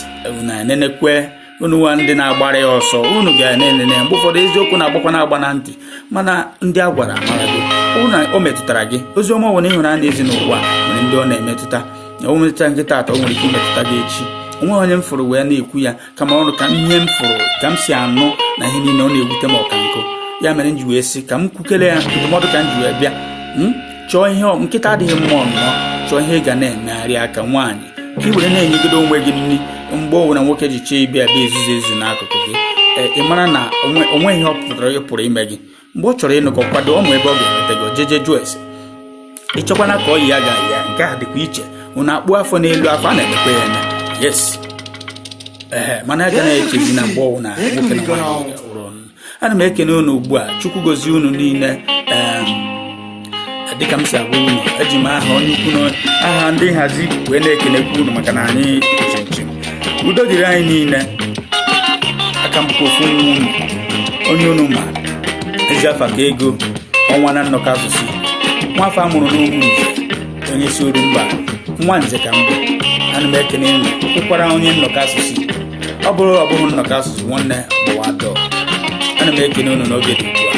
na enenekwe unu nwa ndị na-agbara ya ọsọ unu ga-enene mgbe ụfọdụ eziokwu na-agbakwa na-agba na ntị mana ndị a gwara amara gị na o metụtara gị ozi ọma ọwụna ị hụrụ a na-ezi n'ụwa nwere ndị ọ na-emetụta o metụtaghị taata o nwere ike imetụta gị echi o nweghị onye m fụrụ wee na-ekwu ya kama ọ wụ ka ihe m fụrụ ka m si anụ na ihe niile ọ na-ewute m ọ kwa nke a mere m ji wee sị ka m kwukele ya ndụmọdụ ka m ji wee bịa hmm? chọọ ihe nkịtị adịghị mma ọnụnọ chọọ ihe ị ga na-emegharị aka nwaanyị ka ị were na-enyegodu onwe gị nri mgbe ọwụna nwoke ji chee ịbịa bịa ezuzu ezu n'akụkụ gị eh, ị mara na o nwe ihe ọ pụtara ị pụrụ ime gị mgbe ọ chọrọ ịnụ gị ọ kwado ọ ma ebe ọ ga-enweta gị o jeje jụọ ese ịchọkwana ka ọ yi ya ga-ayị ya nke a dịkwa iche unu akpụ afọ n'elu afọ a na-emekwa ya eme yes ee mana a ga na-echezi na mgbe ọwụna nwoke na nwaanyị ga-awụrụ ọnụ. ana m ekene unu ugbu a Chukwu gozie unu niile em, dịka m si agwa unu eji m aha onye ukwu na aha ndị nhazi wee na-ekenekwu unu maka na anyị chinchin udo dịrị anyị niile aka m bụkwa ofu nwa unu onye unu ma ezi afa ka ego ọnwa na nnọkọ asụsụ nwa afọ a mụrụ n'Umunze onye si Orumba nwa nze ka m bụ ana m ekene unu kwụkwara onye nnọkọ asụsụ ọ bụrụ ọ bụghị nnọkọ asụsụ nwanne gbawa door ana m ekene unu n'oge dị ugbu a